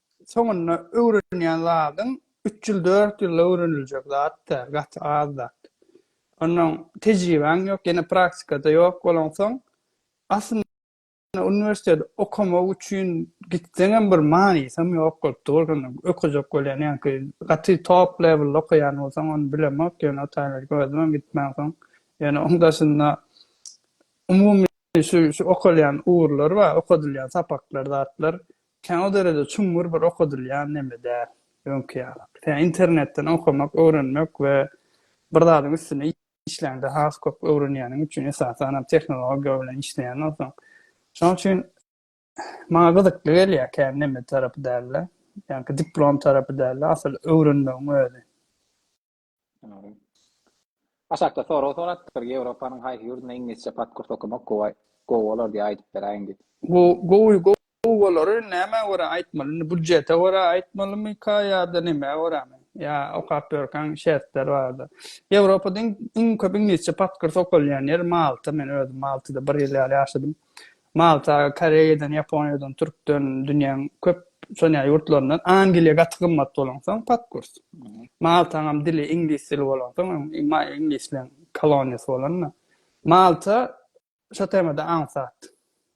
soňunda öwrenýän zadyň üç ýyl, dört ýylda öwreniljek zat da, gaty az zat. Onnoň tejribäň ýok, ýene praktikada ýok bolaňsoň, aslynda uniwersitet okamak üçin gitseňem bir manysam ýok bolup dur, şonda öküzek bolýan ýaňky gaty top lewelde okaýan bolsaň, ony bilemok, ýöne o taýlarka özümem gitmänsoň, ýöne oň daşynda umumy şu şu okalýan ugurlar bar, okadylýan sapaklar, zatlar, Kän o derede çuňňur bir okadylýan neme däl, öňki ýaly. Tä internetden okamak, öwrenmek we bir zadyň üstünde işläňde has köp öwrenýäniň üçin, esasanam tehnologiýa bilen işleýän bolsaň. Şonuň üçin maňa gyzykly gelýär kän neme tarapy däl-de, ýagny diplom tarapy däl-de, asyl öwrenmegiň özi. Aşakda sorag sorapdyr, Ýewropanyň haýsy ýurdunda iňlisçe podkurs okamak gowy gowy bolar diýip aýdyp beräýiň diýip. Bu gowy gowy bolary nämä görä aýtmaly? Indi budjete görä aýtmalymyka ýa-da nämä görämi? Ýa okap ýörkäň şertler barada. Ýewropada iň iň köp iňlisçe podkurs okalýan ýer Malta. Men özüm Maltada bir ýyl ýaly ýaşadym. Malta, Koreýadan, Ýaponiýadan, Türkden, dünýäň köp sonýa ýurtlaryndan Angliýa gaty gymmat bolansoň pat kurs. Maltaňam dili iňlis dili bolansoň, iňlisleň koloniýasy bolanda. Malta şo temada aňsat.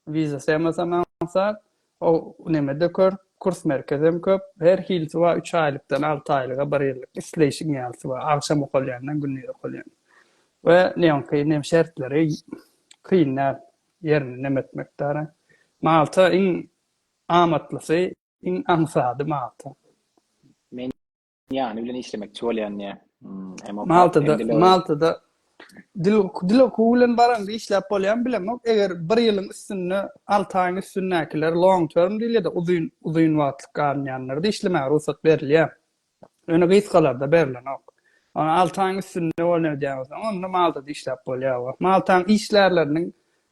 Wiza temasam aňsat. O nemede kör, kurs merkezem köp. Her hilisi bar, üç aýlykdan alty aýlyga, bir ýyllyk isleýşiň ýalysy bar. Agşam okalýandan gündiz okalýan. We neoňky nem şertleri kyn däl. ýerini nem etmekdara. Malta iň amatlysy, iň aňsady Malta. Men ýany bilen işlemekçi bolýan diýä. Hem okat hem dil. Maltada dil dil okuwy bilen baraňda işläp bolýan bilemok. Eger bir ýylyň üstünde, 6 aýyň üstündäkiler long term diýilýär-de, uzyn uzyn wagtlyk galynýanlarda işlemäge rugsat berilýär. Öne gysgalarda berlenok. Ony alty aýyň üstünde bolan ödäwsoň, onda malda-da işläp bolýar. Wah, maltaň işgärleriniň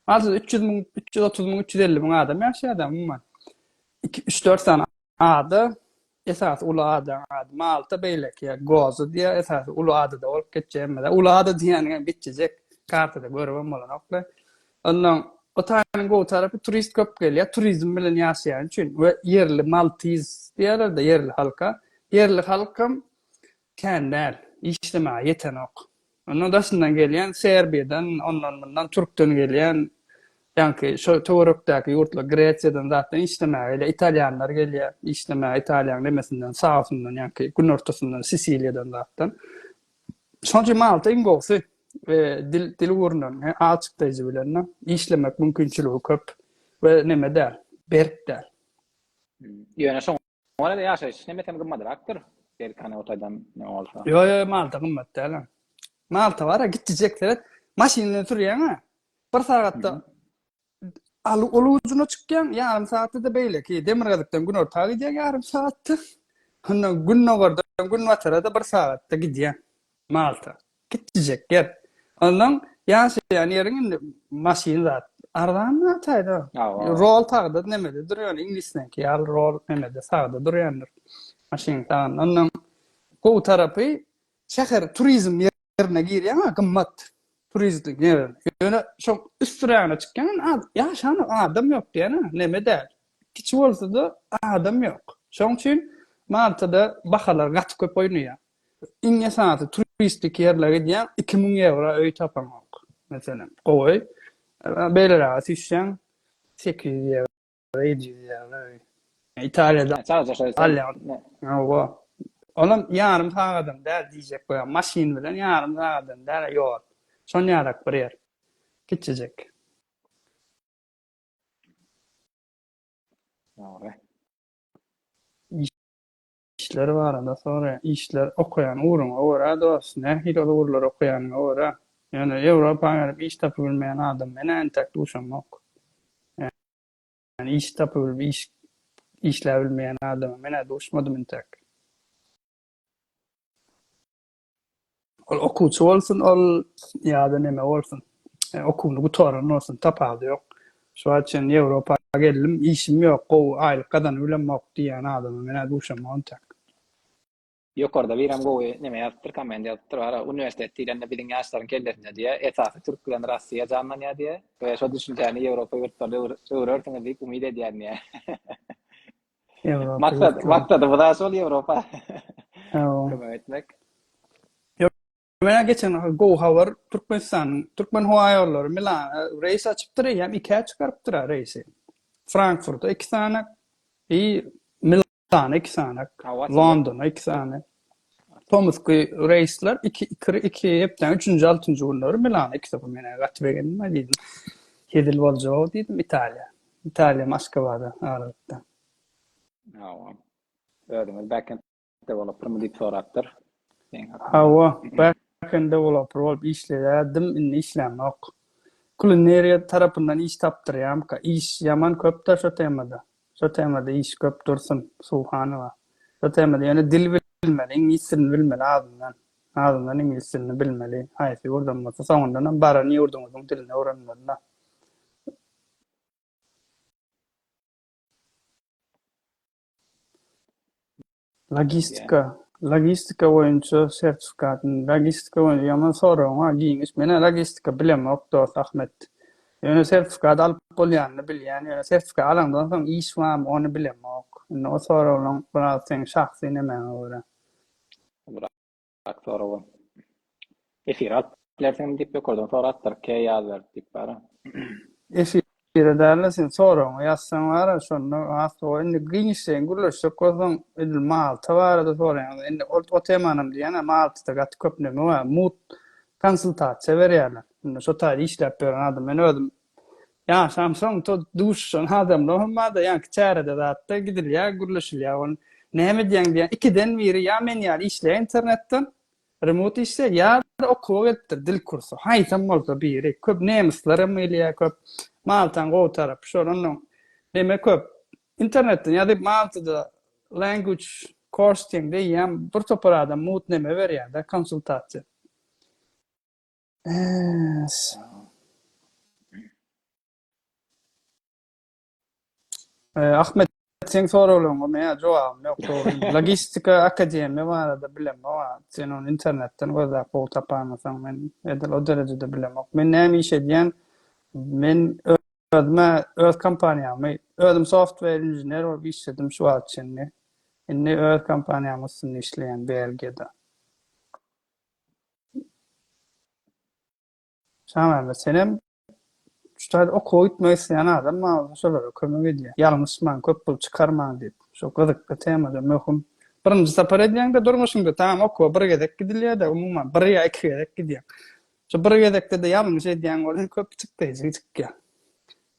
azyndan üç ýüz müň, üç ýüz otuz müň, üç ýüz elli müň adam ýaşaýar-da, umuman. Iki, üç-dört sany ada, esasy uly ada, ady Malta, beýleki ýer Gozo diýýär, esasy uly adada bolup geçýär. Emma-da uly ada diýýäniňem bitjejek, kartada görübem bolanok-da. Ondan Hytaýyň gowy tarapy turist köp gelýär, turizm bilen ýaşaýan üçin we ýerli maltiz diýýärler-de ýerli halka. Ýerli halkam kän däl, işlemäge ýetenok. Ondan daşyndan gelýän Serbiýadan, ondan-mundan türkden gelýän, ýaňky şo töwerekdäki ýurtlar Gresiýadan zatdan işlemäge gelýär. Italýanlar gelýär işlemäge Italiýanyň nemesinden, sausyndan, ýaňky günortasyndan, Sisiliýadan zatdan. Şonuň üçin maňa iň gowusy e, dil dil ugrundan he, alçykdaýjy bilen işlemek mümkinçiligi köp we neme däl, berk däl. Hmm. Ýöne şoň Oňa da ýaşaýyş näme hem gymmadrakdyr. Belki ana otaýdan ne bolsa. Ýok, ýok, Malta gymmat däl. Malta bar, gitjek seret. Maşyn bilen sürýäň-ä. Bir sagatda Aly ujuna çykýaň, ýarym saatda-da beýleki, demirgazykdan günorta gidýäň ýarym saatda, ondan gündogardan günbatara-da bir sagatda gidýäň Malta. Kiçijek ýer. Ondan ýaşaýan ýeriň indi maşyn zat arzan zat-aýda. Rol sagda nemede dur, ýöne iňlisdeňki ýaly rol nemede sagda durýandyr. Maşyn sagynda. Ondan gowy tarapy şäher turizm ýeri. ýerine girýäňä gymmat turistik ýer. Ýöne şoň üstürägine çykýaň az ýaşanok adam ýok diýýänä neme däl. Kiçi bolsada adam ýok. Şoň üçin Maltada bahalar gaty köp oýnaýar. Iň esasy turistik ýerlere gidýäň iki müň ýewra öý tapaňok. Meselem gowy beýleräge süýşýäň sekiz ýüz ýewra. Öý diýýär, öý. Italiýada. Çagja şeýle. Alýar. Hawa. Olam ýarym sagadam däl diýjek bolýar. Maşyn bilen ýarym sagadam däl ýol. Şonýarak bir ýer. Kiçijik. Dogry. Işler barada soraýan. Işler okaýan ugruňa görä dos, nähili ol ugurlary okaýanyňa görä. Ýöne Ýewropa gelip iş tapybilmeýän adam men entek duşamok. Ýani iş tapybilip iş işläbilmeýän adama men-ä duşmadym entek. Ol okuwçy bolsun, ol ýa-da neme bolsun, okuwyny gutaran bolsun, tapawudy ýok. Şu wagta çenli Ýewropa geldim, işim ýok, gowy aýlyk gazanyp bilemok diýýän adama men-ä duşamok entek. Ýokarda birem gowy neme ýazypdyr, komment ýazypdyr, bara uniwersitet diýlende biziň ýaşlaryň kellesinde diýýär, esasy türk bilen Russiýa janlanýar diýýär we şo düşünjäni Ýewropa ýurtlarynda öwrersiňiz diýip umyt edýärin diýýär. Maksat, maksat, bu da şol Ýewropa. Kömek etmek. Menä geçen gowy habar, Türkmenistan, Türkmen howa ýollary Milana reýs açypdyr, eýýäm ikä çykarypdyr ha reýsi. Frankfurta iki sany, Milana iki sany, Londona iki sany. Tomusky reýsler iki iki iki hepdäniň üçünji altynjy günleri Milana iki topar menä gaty begendim ha diýdim. Hezil boljag diýdim Italiýa. Italiýa Moskwada aralykda. Hawa. Özüňiz backendde bolupdyrmy diýip sorapdyr. Hawa, backendde bolupdyr bolup işleýärdim, indi işlämok. Kulineriýa tarapyndan iş tapdyrýamyka? Iş ýaman köp-de şo temada. Şo temada iş köp Dursun Suhanowa. Şo temada ýöne dil bilmeli, iňlis dilini bilmeli azyndan. Azyndan iňlis dilini bilmeli. Haýsy ýurdam bolsa, soňundanam baran ýurduňyzyň dilini öwrenmeli-la. Logistika, logistika boýunça sertifikatyny, logistika boýunça ýaman soragyňa giňiş, menä logistika bilemok dost Ahmet. Ýöne sertifikat alyp bolýanyny bilýän, ýöne sertifikat alaňdan soň iş barmy ony bilemok. Indi o soraglaň biraz seň şahsy nemäňe görä. Bak sorawa. Efire alyp bilersiňmi diýip ýokardan sorapdyr. K ýaz berip diýip bara. Efire däl-de sen soragyňy ýazsaň bara şonda has gowy. Indi giňişleýin gürleşjek bolsaň edil Malta barada soraýaňda indi ol o temanam diýýän-ä Maltada gaty köp näme bar. Mugt konsultasiýa berýärler. Indi şo taýda işläp ýören adam. Men özüm Ýaşam soň to duşuşan adamlar hem barda ýaňky çärede zatda gidilýä gürleşilýä ol näme edýäň diýä ikiden biri ýa men ýaly işleýä internetden remut işleýä ýada okuwa gelipdir dil kursu haýsam bolsa biri köp nemyslar hem gelýä köp maltaň gowy tarapy şol onnoň neme köp internetden ýazyp maltada language course diýeňde eýýäm bir topar adam mut neme berýäda konsultasiýa. Ee, sag. Ee, Ahmet seň soraglaryňa men jogabym ýok. Dogry. Logistika akademiýa barada bilemok. ha. Sen ony internetden gözläp gowy tapandysaň, men edil o derejede bilemok. Men näme iş edýän? Men ö- özüme, öz kompaniýamy, özüm software inžener bolup işledim şu wagt çenli. Indi öz kompaniýamyň üstünde işleýän Belgiýada. Şamämmet senem şu taýda okuwa gitmek isleýän adam maňa şolara kömek edýä. Ýalňyşman, köp pul çykarman diýip. Şo gyzykly temada möhüm. Birinji sapar edýäňde durmuşyňda tamam okuwa bir gezek gidilýärde umuman bir ýa iki gezek gidýäň. Şo bir gezekde-de ýalňyş edýäň bolsa köp çykdaýjy çykýar.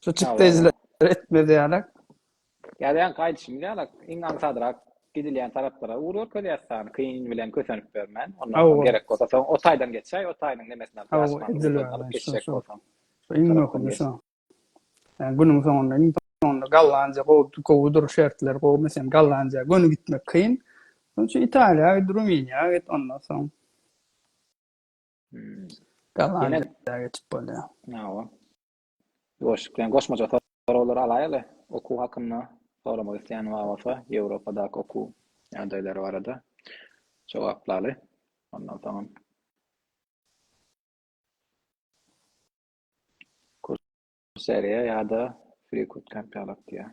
Şo çykdaýjylary etmezýärek. Ýazýanka aýdyşymyz ýalak, iň aňsadrak gidilýän taraplara ugur görkezýäs sany kyn bilen kösenip bermän. Ondan soň gerek bolsa soň o taýdan geçäý, o taýynyň nemesini alyp ýaşmaň ugurlaryny alyp geçjek bolsaň. Şu iň möhümi şu. Ýa günüň soňunda, iň soňunda Gollandiýa gowy, gowudyr şertler gowy, meselem Gollandiýa göni gitmek kyn. Şonuň üçin Italiýa git, Rumyniýa git, ondan soň Gollandiýa geçip bolýar. Hawa. Ýoşupjan goşmaça soraglary alaýaly, okuw hakynda soramak isleýän bar bolsa, Ýewropadaky okuw ýagdaýlary barada jogaplaly. Ondan soňam Kurseriýa ýa-da Freecodecamp ýaly diýýär.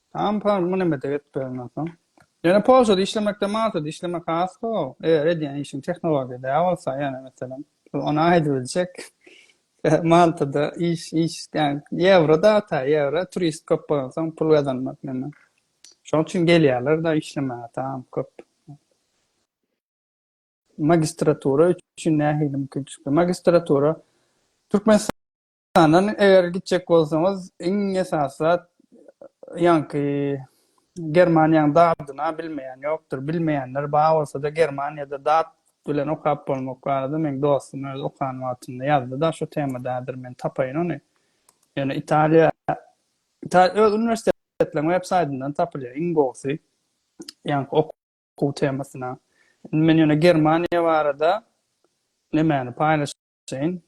Tamam par muny mete getmeden soň. Ýöne Polşada işlemekde Maltada işlemek has gowy. Eger edýän işiň tehnologiýa däl bolsa, ýöne meselem, ony aýdyp biljek. Maltada iş, iş, ýani ýewro da ta ýewro, turist köp bolan soň pul gazanmak näme. Şonuň üçin gelýärler da işlemäge tamam köp. Magistratura üçin nähili mümkinçilikler? Magistratura Türkmenistan Andan eger gitjek bolsaňyz, iň esasy zat ýaňky Germaniýanyň dadyna bilmeýän ýokdur. Bilmeýänler bar bolsa-da Germaniýada dat bilen okap bolmak barada meň dostum özi okan wagtynda ýazdy-da şu temada häzir men tapaýyn ony. Ýöne Italiýa Italiýa öz uniwersitetleriň web saýtyndan tapylýar iň gowusy. Ýaňky okuw temasyna. Men ýöne Germaniýa barada nemäni paýlaşyp çenli,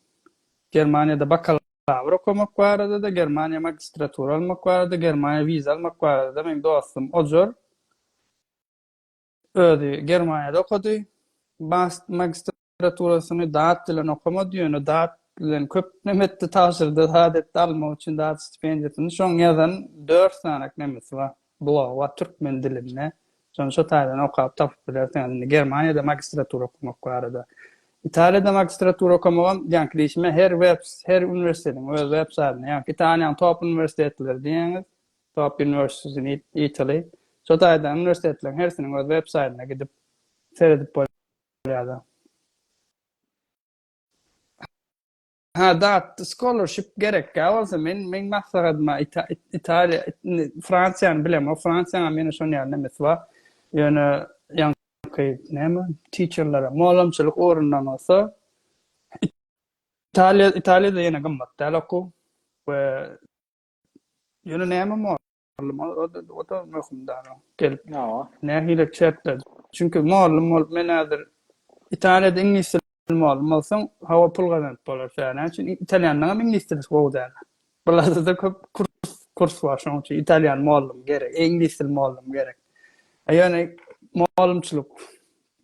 Germaniýada bakalawr okamak barada-da, Germaniýa magistratura almak barada, Germaniýa wiza almak barada-da meň dostum Ojar özi Germaniýada okady. Bast magistraturasyny dat bilen okamady, ýöne dat bilen köp neme etdi, tabşyrdy, dat etdi, almak üçin dat stipendiýasyny. Şoň ýazan dört sany nemesi bar. Bloga türkmen dilinde şony şo taýdan okap tapyp bilersiňiz indi Germaniýada magistratura okamak barada. Italiýada magistratura okamagam ýaňky diýşime her web her uniwersitetiň öz web saýtynda ýaňky Italiýanyň top uniwersitetleri diýýäňiz top universities in Italy şo taýdan uniwersitetleriň hersiniň öz web saýtyna gidip seredip bolýar. Hä dat scholarship gerekkä bolsa men men maslahatyma Italiýa Fransiýany bilemok Fransiýanyň meni şon ýaly nemes bar ýöne ýaňky näme teacherlere molamçylyk orundan bolsa Italiýa Italiýada ýene gymmat däl okuw we ýöne näme Mugallym ol-da oda möhümdara gelip nähili çäkledi. Çünki mugallym bolup men häzir Italiýada iňlis dili mugallym bolsaň hawa pul gazanyp bolar tä näme üçin italýanlaňam iňlis dili gowy däl. Bularda-da köp kurs kurs bar şonuň üçin italýan mugallym gerek iňlis dili mugallym gerek. A ýöne mugallymçylyk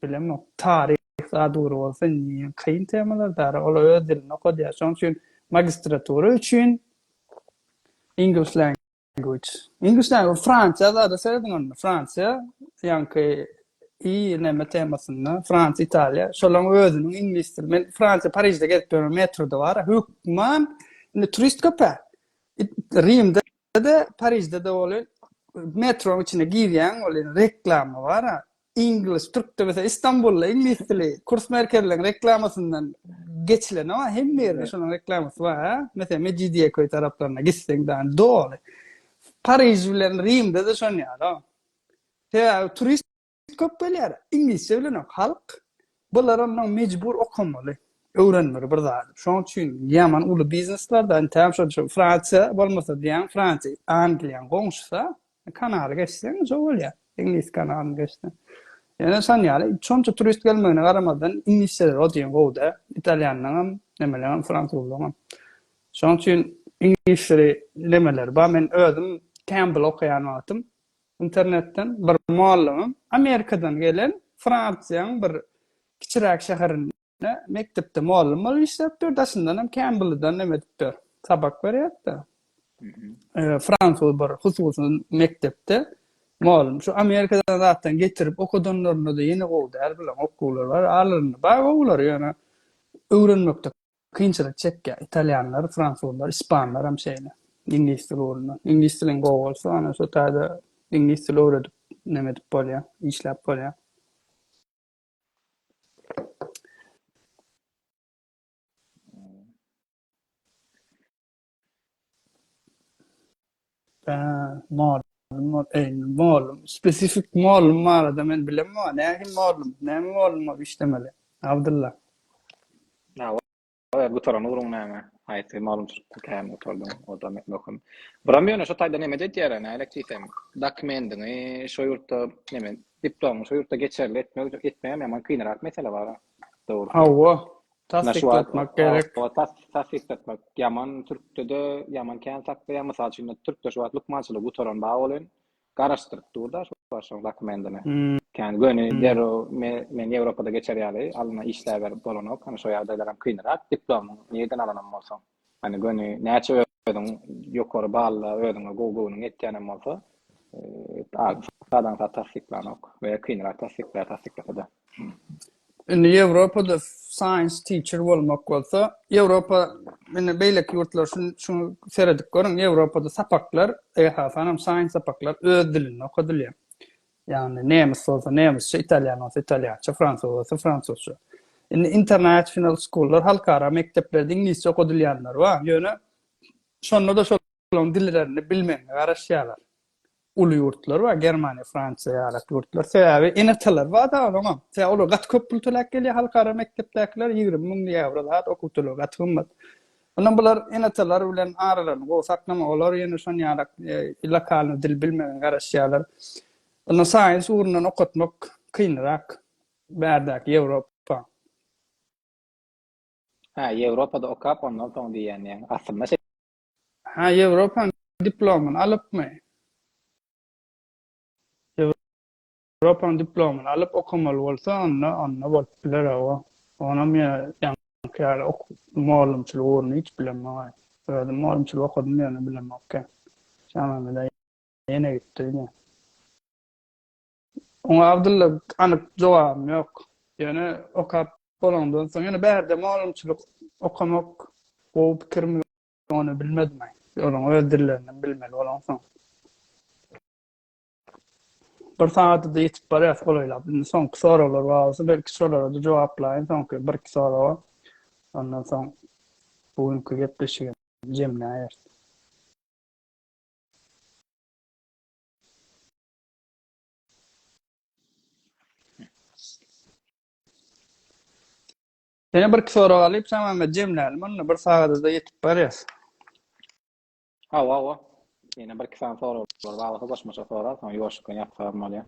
bilemok taryh zat ugry bolsa kyn temalar dara olar öz dilinde okadýar şonuň üçin magistratura üçin English language. English language Fransiýa zada serediň onda. Fransiýa ýaňky i näme temasynda Fransiýa, Italiýa. Şolaryň özüniň iňlis dili. Men Fransiýa Parižde gezip ýörün metroda bar. Hökman indi turist köpä. Rimde de Parižde de bolýar. Metroň içine girýäň bolýar reklama bar. Iňlis, türk dilisi, Istanbulda iňlis dili kurs merkezleriň reklamasyndan geçilen o, hemme ýerde şonuň reklamasy bar, ha? Meselem, Mejidiýeköý taraplaryna gitseň dan doly. Pariž bilen Rimde-de şon ýaly. Sebäbi turist köp gelýär, iňlisçe bilenok halk. Bular ondan mejbur okamaly, öwrenmeli bir zady. Şoň üçin ýaman uly bizneslarda entägem şol şu Fransiýa bolmasa diýýän Fransiýa, Angliýanyň goňşusy-a, kanaly geçseň şo bolýar, Iňlis kanalyny geçseň. Ýöne şon ýaly şonça turist gelmegine garamazdan iňlisçeleri o deýin gowy-da, italýanlaňam, nemeleňem, fransuzlaňam. Şoň üçin iňlisçeli nemeleri bar. Men özüm Campbell okaýan wagtym Internetden bir mollagym Amerikadan gelen Fransiýaň bir kiçiräk şäherinde mekdepde mollum bolup işläp dur, daşyndan hem kän buludan neme edip dur, sapak berýärdi. Fransuz bir hususy mekdepde mollum. Şu Amerikadan zatdan getirip okadanlarynda-da ýene gowy däl, bilen okuwlar bar, aralarynda bar gowulary, ýöne öwrenmekde Kynçylyk çekýär. Italýanlar, fransuzlar, ispanlar hem şeýle. Iňlis dili ugrundan. Iňlis diliň gowy bolsa, ana şo taýda iňlis dili öwredip, näme edip bolýar, işläp bolýar. Mol mol eýni molum spesifik molum barada men bilem wa nähi molum näme molum bolup işlemeli abdylla Oýa gutaran ugruň näme? Haýsy maglumatçylykda kämil gutardyň? O-da möhüm. Buram ýöne şo taýdan emet edýär-ä, nälik diýsem, dokumendiňi şo ýurtda, neme, diplomyňy şo ýurtda geçerli etmek, etmegem ýaman kynrak mesele bar-a. Dogrusu. Hawa, Tassykltmak gerek. Tassykltmak ýaman türkde-de ýaman kän saklanýar. Mysal üçin türkde şu wagt lukmançylygy gutaran bar bolyň. Garaşdyryp dur da şu wagt şoň dokumentini. Kän göni derrew men Ýewropada geçer ýaly alna işläber bolanok. Hany şo ýagdaýlaram kynrak. Diplomyň nireden alanam bolsaň. Hany göni näçe özüň ýokary balla özüňe gowy göwnüň ýetýänem bolsa ady sadaň sat tassyklanok we kynrak tassyklaýar tassyklasa-da. Indi Ýewropada science teacher bolmak bolsa Ýewropa indi beýleki ýurtlar şun şuny seredip görüň Ýewropada sapaklar esasanam science sapaklar öz dilinde okadylýar. Ýagny nemis bolsa nemisçe, italýan bolsa italýança, fransuz bolsa fransuzça. Indi international schoollar, halkara mekdepler diňlisçe okadylýanlary bar, ýöne şonda-da şolaryň dillerini bilmegine garaşýarlar. Uly ýurtlar bar, Germaniýa, Fransiýa ýaly ýurtlar. Sebäbi ene-atalar bar da onuňam. Sebäbi olar gaty köp pul töläp gelýär halkara mekdepdäkiler, ýigrimi müň ýewro zat, okuw tölegi gaty gymmat. Ondan bular ene-atalar bilen aralaryny gowy saklamaga, olar ýene şon ýalak lokalnyý dil bilmegine garaşýarlar. Onda saýens ugrundan okatmak kynrak bärdäki Ýewropa. Hä, Ýewropada okap, ondan soň diýýän ýaňy. Aslynda şe. Hä, Ýewropanyň diplomyny alypmy? Propan diplomyny alyp okamaly bolsa onda onda bolup biler awa. Onam ýa ýaňky ýaly ok mugallymçylyk ugruny hiç bilemogay. Özüm mugallymçylyk okadym ýöne bilemokkä. Şaňlamada ýene gitdi ine. Oňa Abdylla anyk jogabym ýok. Ýöne okap bolandan soň ýöne bärde mugallymçylyk okamak gowy pikirmi ony bilmedim aý. Olaň öz dillerini bilmeli bolaňsoň. Bir sagada-da ýetip barýas golaýlap. Indi soňky soraglar bar bolsa, belki şolara-da jogaplaýyn soňky birki soraga. Ondan soň bu günki gepleşigi jemläýeris. Ýene birki sorag alyp, Şamämmet jemläliň onda, bir sagada-da ýetip barýas. Hawa, hawa. Ýene bir iki sany soraglar barlygy goşmaça sorag, soň ýuwaşlyk bilen ýatyp salam bolýar.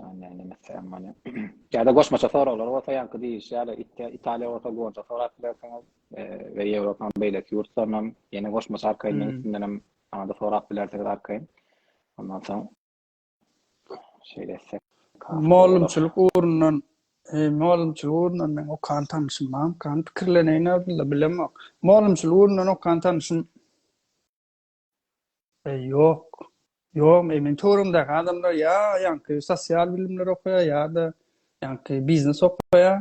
Näme etsem bolýar. Ýa-da goşmaça soraglar bolsa ýaňky diýilişi ýaly Italiýa bolsa goja sorap bilersiňiz we Ýewropanyň beýleki ýurtlaryndan ýene goşmaça arkaýyn meň üstümdenem aňa-da sorap bilersiňiz arkaýyn. Ondan soň Şeýle etsek. Mugallymçylyk ugrundan, mugallymçylyk ugrundan meň okan tanyşym barmykan? Pikirleneýin Abdylla, bilemok. Mugallymçylyk ugrundan okan tanyşym ýok. Ýok, meniň töweregimdäki adamlar ýa ýaňky sosial bilimler okaýar ýa-da ýaňky biznes okaýar.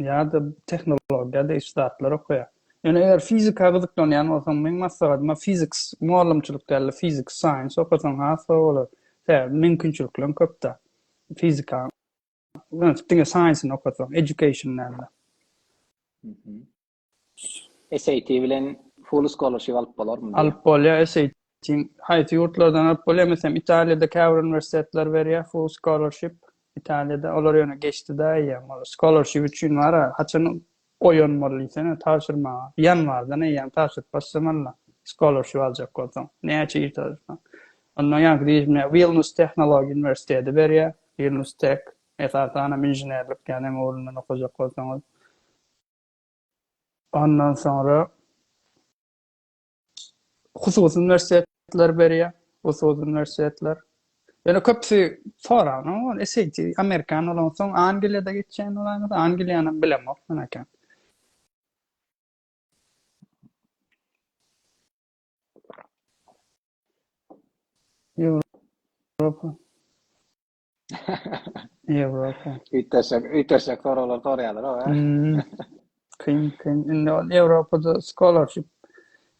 ýa-da tehnologiýa degişli zatlar okaýar. Ýöne eger fizika gyzyklanýan bolsaň, meň maslahatym fiziks, mugallymçylyk däl-de fiziks, science okasaň has gowy bolar. Sebäbi mümkinçilikleriň köp-dä. Fizika diňe science-ni okasaň, education däl-de. SAT bilen full scholarship alyp bolarmy? Alyp bolýar SAT haýsy ýurtlardan alyp bolýar meselem Italiýada käbir uniwersitetler berýär full scholarship Italiýada olar ýöne geçdidä eýýäm ol scholarship üçin bara haçan goýan bol diýsene tabşyrmaga ýanwardan eýýäm tabşyryp başlamalyda scholarship aljak bolsaň näçe ir tabşyrsaň ondan ýaňky diýilmä Wilnus tehnologiýa uniwersiteti berýär Wilnus Tech esasanam inženerlik ýanem ugrundan okajak bolsaňyz Ondan soňra hususy uniwersitetler berýär, hususy uniwersitetler. Ýöne köpüsi soragyna ol SAT, amerikan bolan soň Angliýada geçýän bolany, Angliýany bilemok men eken. Ýewropa. Ýewropa. Üýtgeşik, üýtgeşik soraglar soraýarlar oňa. Kyn, kyn. Indi ol Ýewropada scholarship.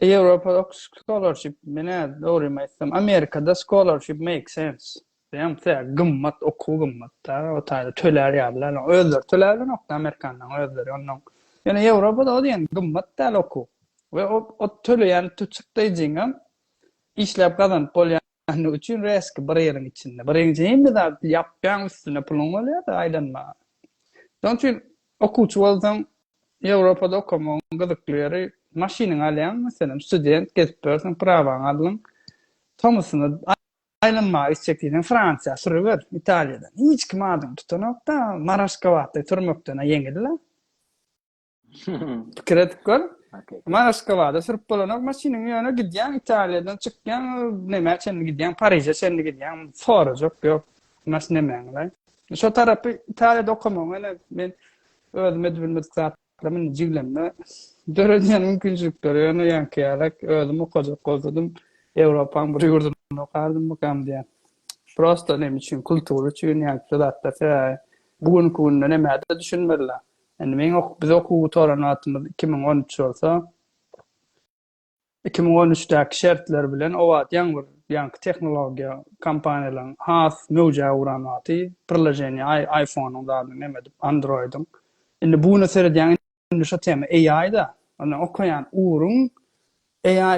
Ýewropada okuş scholarship, menä dogrymy aýtsam, Amerikada scholarship make sense. Diýýän, tä gymmat, okuw gymmat-da, o taýda tölär ýalylar. Özleri töläp bilenok-da amerikanlaryň özleri onnoň. Ýöne Ýewropada o diýen gymmat däl okuw. We o töleýän çykdaýjyňam işläp gazanyp bolýan. Näme üçin reski bir ýylyň içinde? Birinji hemme zat ýapýaň üstüne puluň bolýada aýlanma. Şoň üçin okuwçy bolsaň Ýewropada okamagyň gyzykly ýeri maşynyňy alýaň meselem student gezip ýörseň prawaňy aldyň tomusuna aýlanmaga gitjek diýseň Fransiýa sürüber Italiýadan hiç kim adyňy tutanokda maraşkawatda sürmekden-ä ýeňil-le. Pikir edip gör. Ma Aşgabada sürüp bolanok maşynyň ýöne gidýän Italiýadan çykýan näme çenli gidýän Pariže çenli gidýän sorajak ýok. Mas nämeňle. Şu tarapy Italiýada okamaň ene men özüm edip bilmedik zatlar men jiglemde döredýän mümkinçilikleri ýöne ýanki ýalak özüm okajak bolsadym Ýewropaň bir ýurdunda okardym bu kam diýen. Prosta näme üçin kultur üçin ýanki zatlar sebäbi bu günki günde näme düşünmediler. Indi meň ok biz okuw gutaran wagtymyz iki müň on üç bolsa, iki müň on üçdäki şertler bilen o wagt ýaňy bir ýaňky tehnologiýa kompaniýalaryň has möwjä uran wagty priloženiýa aý aýfonyň zadyny neme edip androýdyň indi bu güne seredýäň indi şo tema AI-da ondan okaýan ugruň AI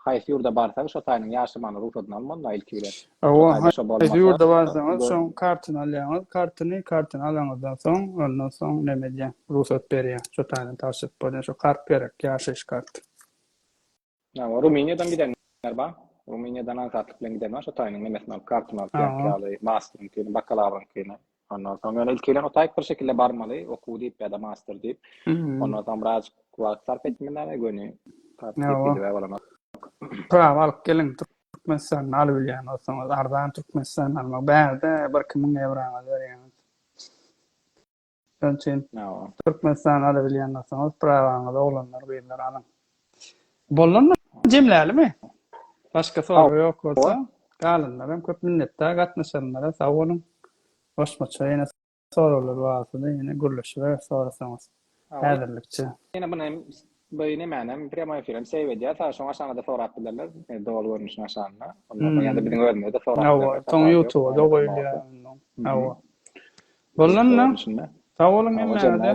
Haýsy ýurda barsaň şo taýynyň ýaşamagyna rugsadyny almalyda ilki bilen. Hawa haýsy ýurda barsaňyz şoň kartyny alýaňyz, kartyny kartyny alaňyzdan soň ondan soň neme edýä rugsat berýä şo taýdan tabşyryp bolýa şo kart gerek ýaşaýyş karty. Hawa Rumyniýadan gidenler bar. Rumyniýadan aňsatlyk bilen giden bar şo taýynyň nemesini alyp kartyny alyp ýaňky ýaly masteryňkyny bakalawryňkyny Ondan soň ýöne ilki bilen otaýyk bir şekilde barmaly, okuw diýip ýa-da master diýip. Ondan soň biraz wagt sarp etmeli näme göni. Prawa alyp geliň, Türkmenistanda alyp bilýän bolsaňyz, arzan Türkmenistanda almak, bärde bir iki müň ewraňyzy berýäňiz. Şonuň üçin Türkmenistanda alyp bilýän bolsaňyz, prawaňyzy oglanlar, gyzlar alyň. Bollanmy? Jemlälimi? Başga sorag ýok bolsa, galanlaram köp minnetdar gatnaşanlara sag boluň. Goşmaça ýene soraglar barsyda ýene gürleşiberis sorasaňyz. Häzirlikçe. Ýene muny hem bu nemäni hem prýamoý efirem seýw edýär. Sag şoň aşaňada sorap bilerler. Doly görnüşini aşagynda. Ondan soň ýa-da biziň özümizde sorap bilerler. Hawa, soň ýutuba-da goýulýar onda. Hawa. Bollanmy? Sag boluň hemmäňize.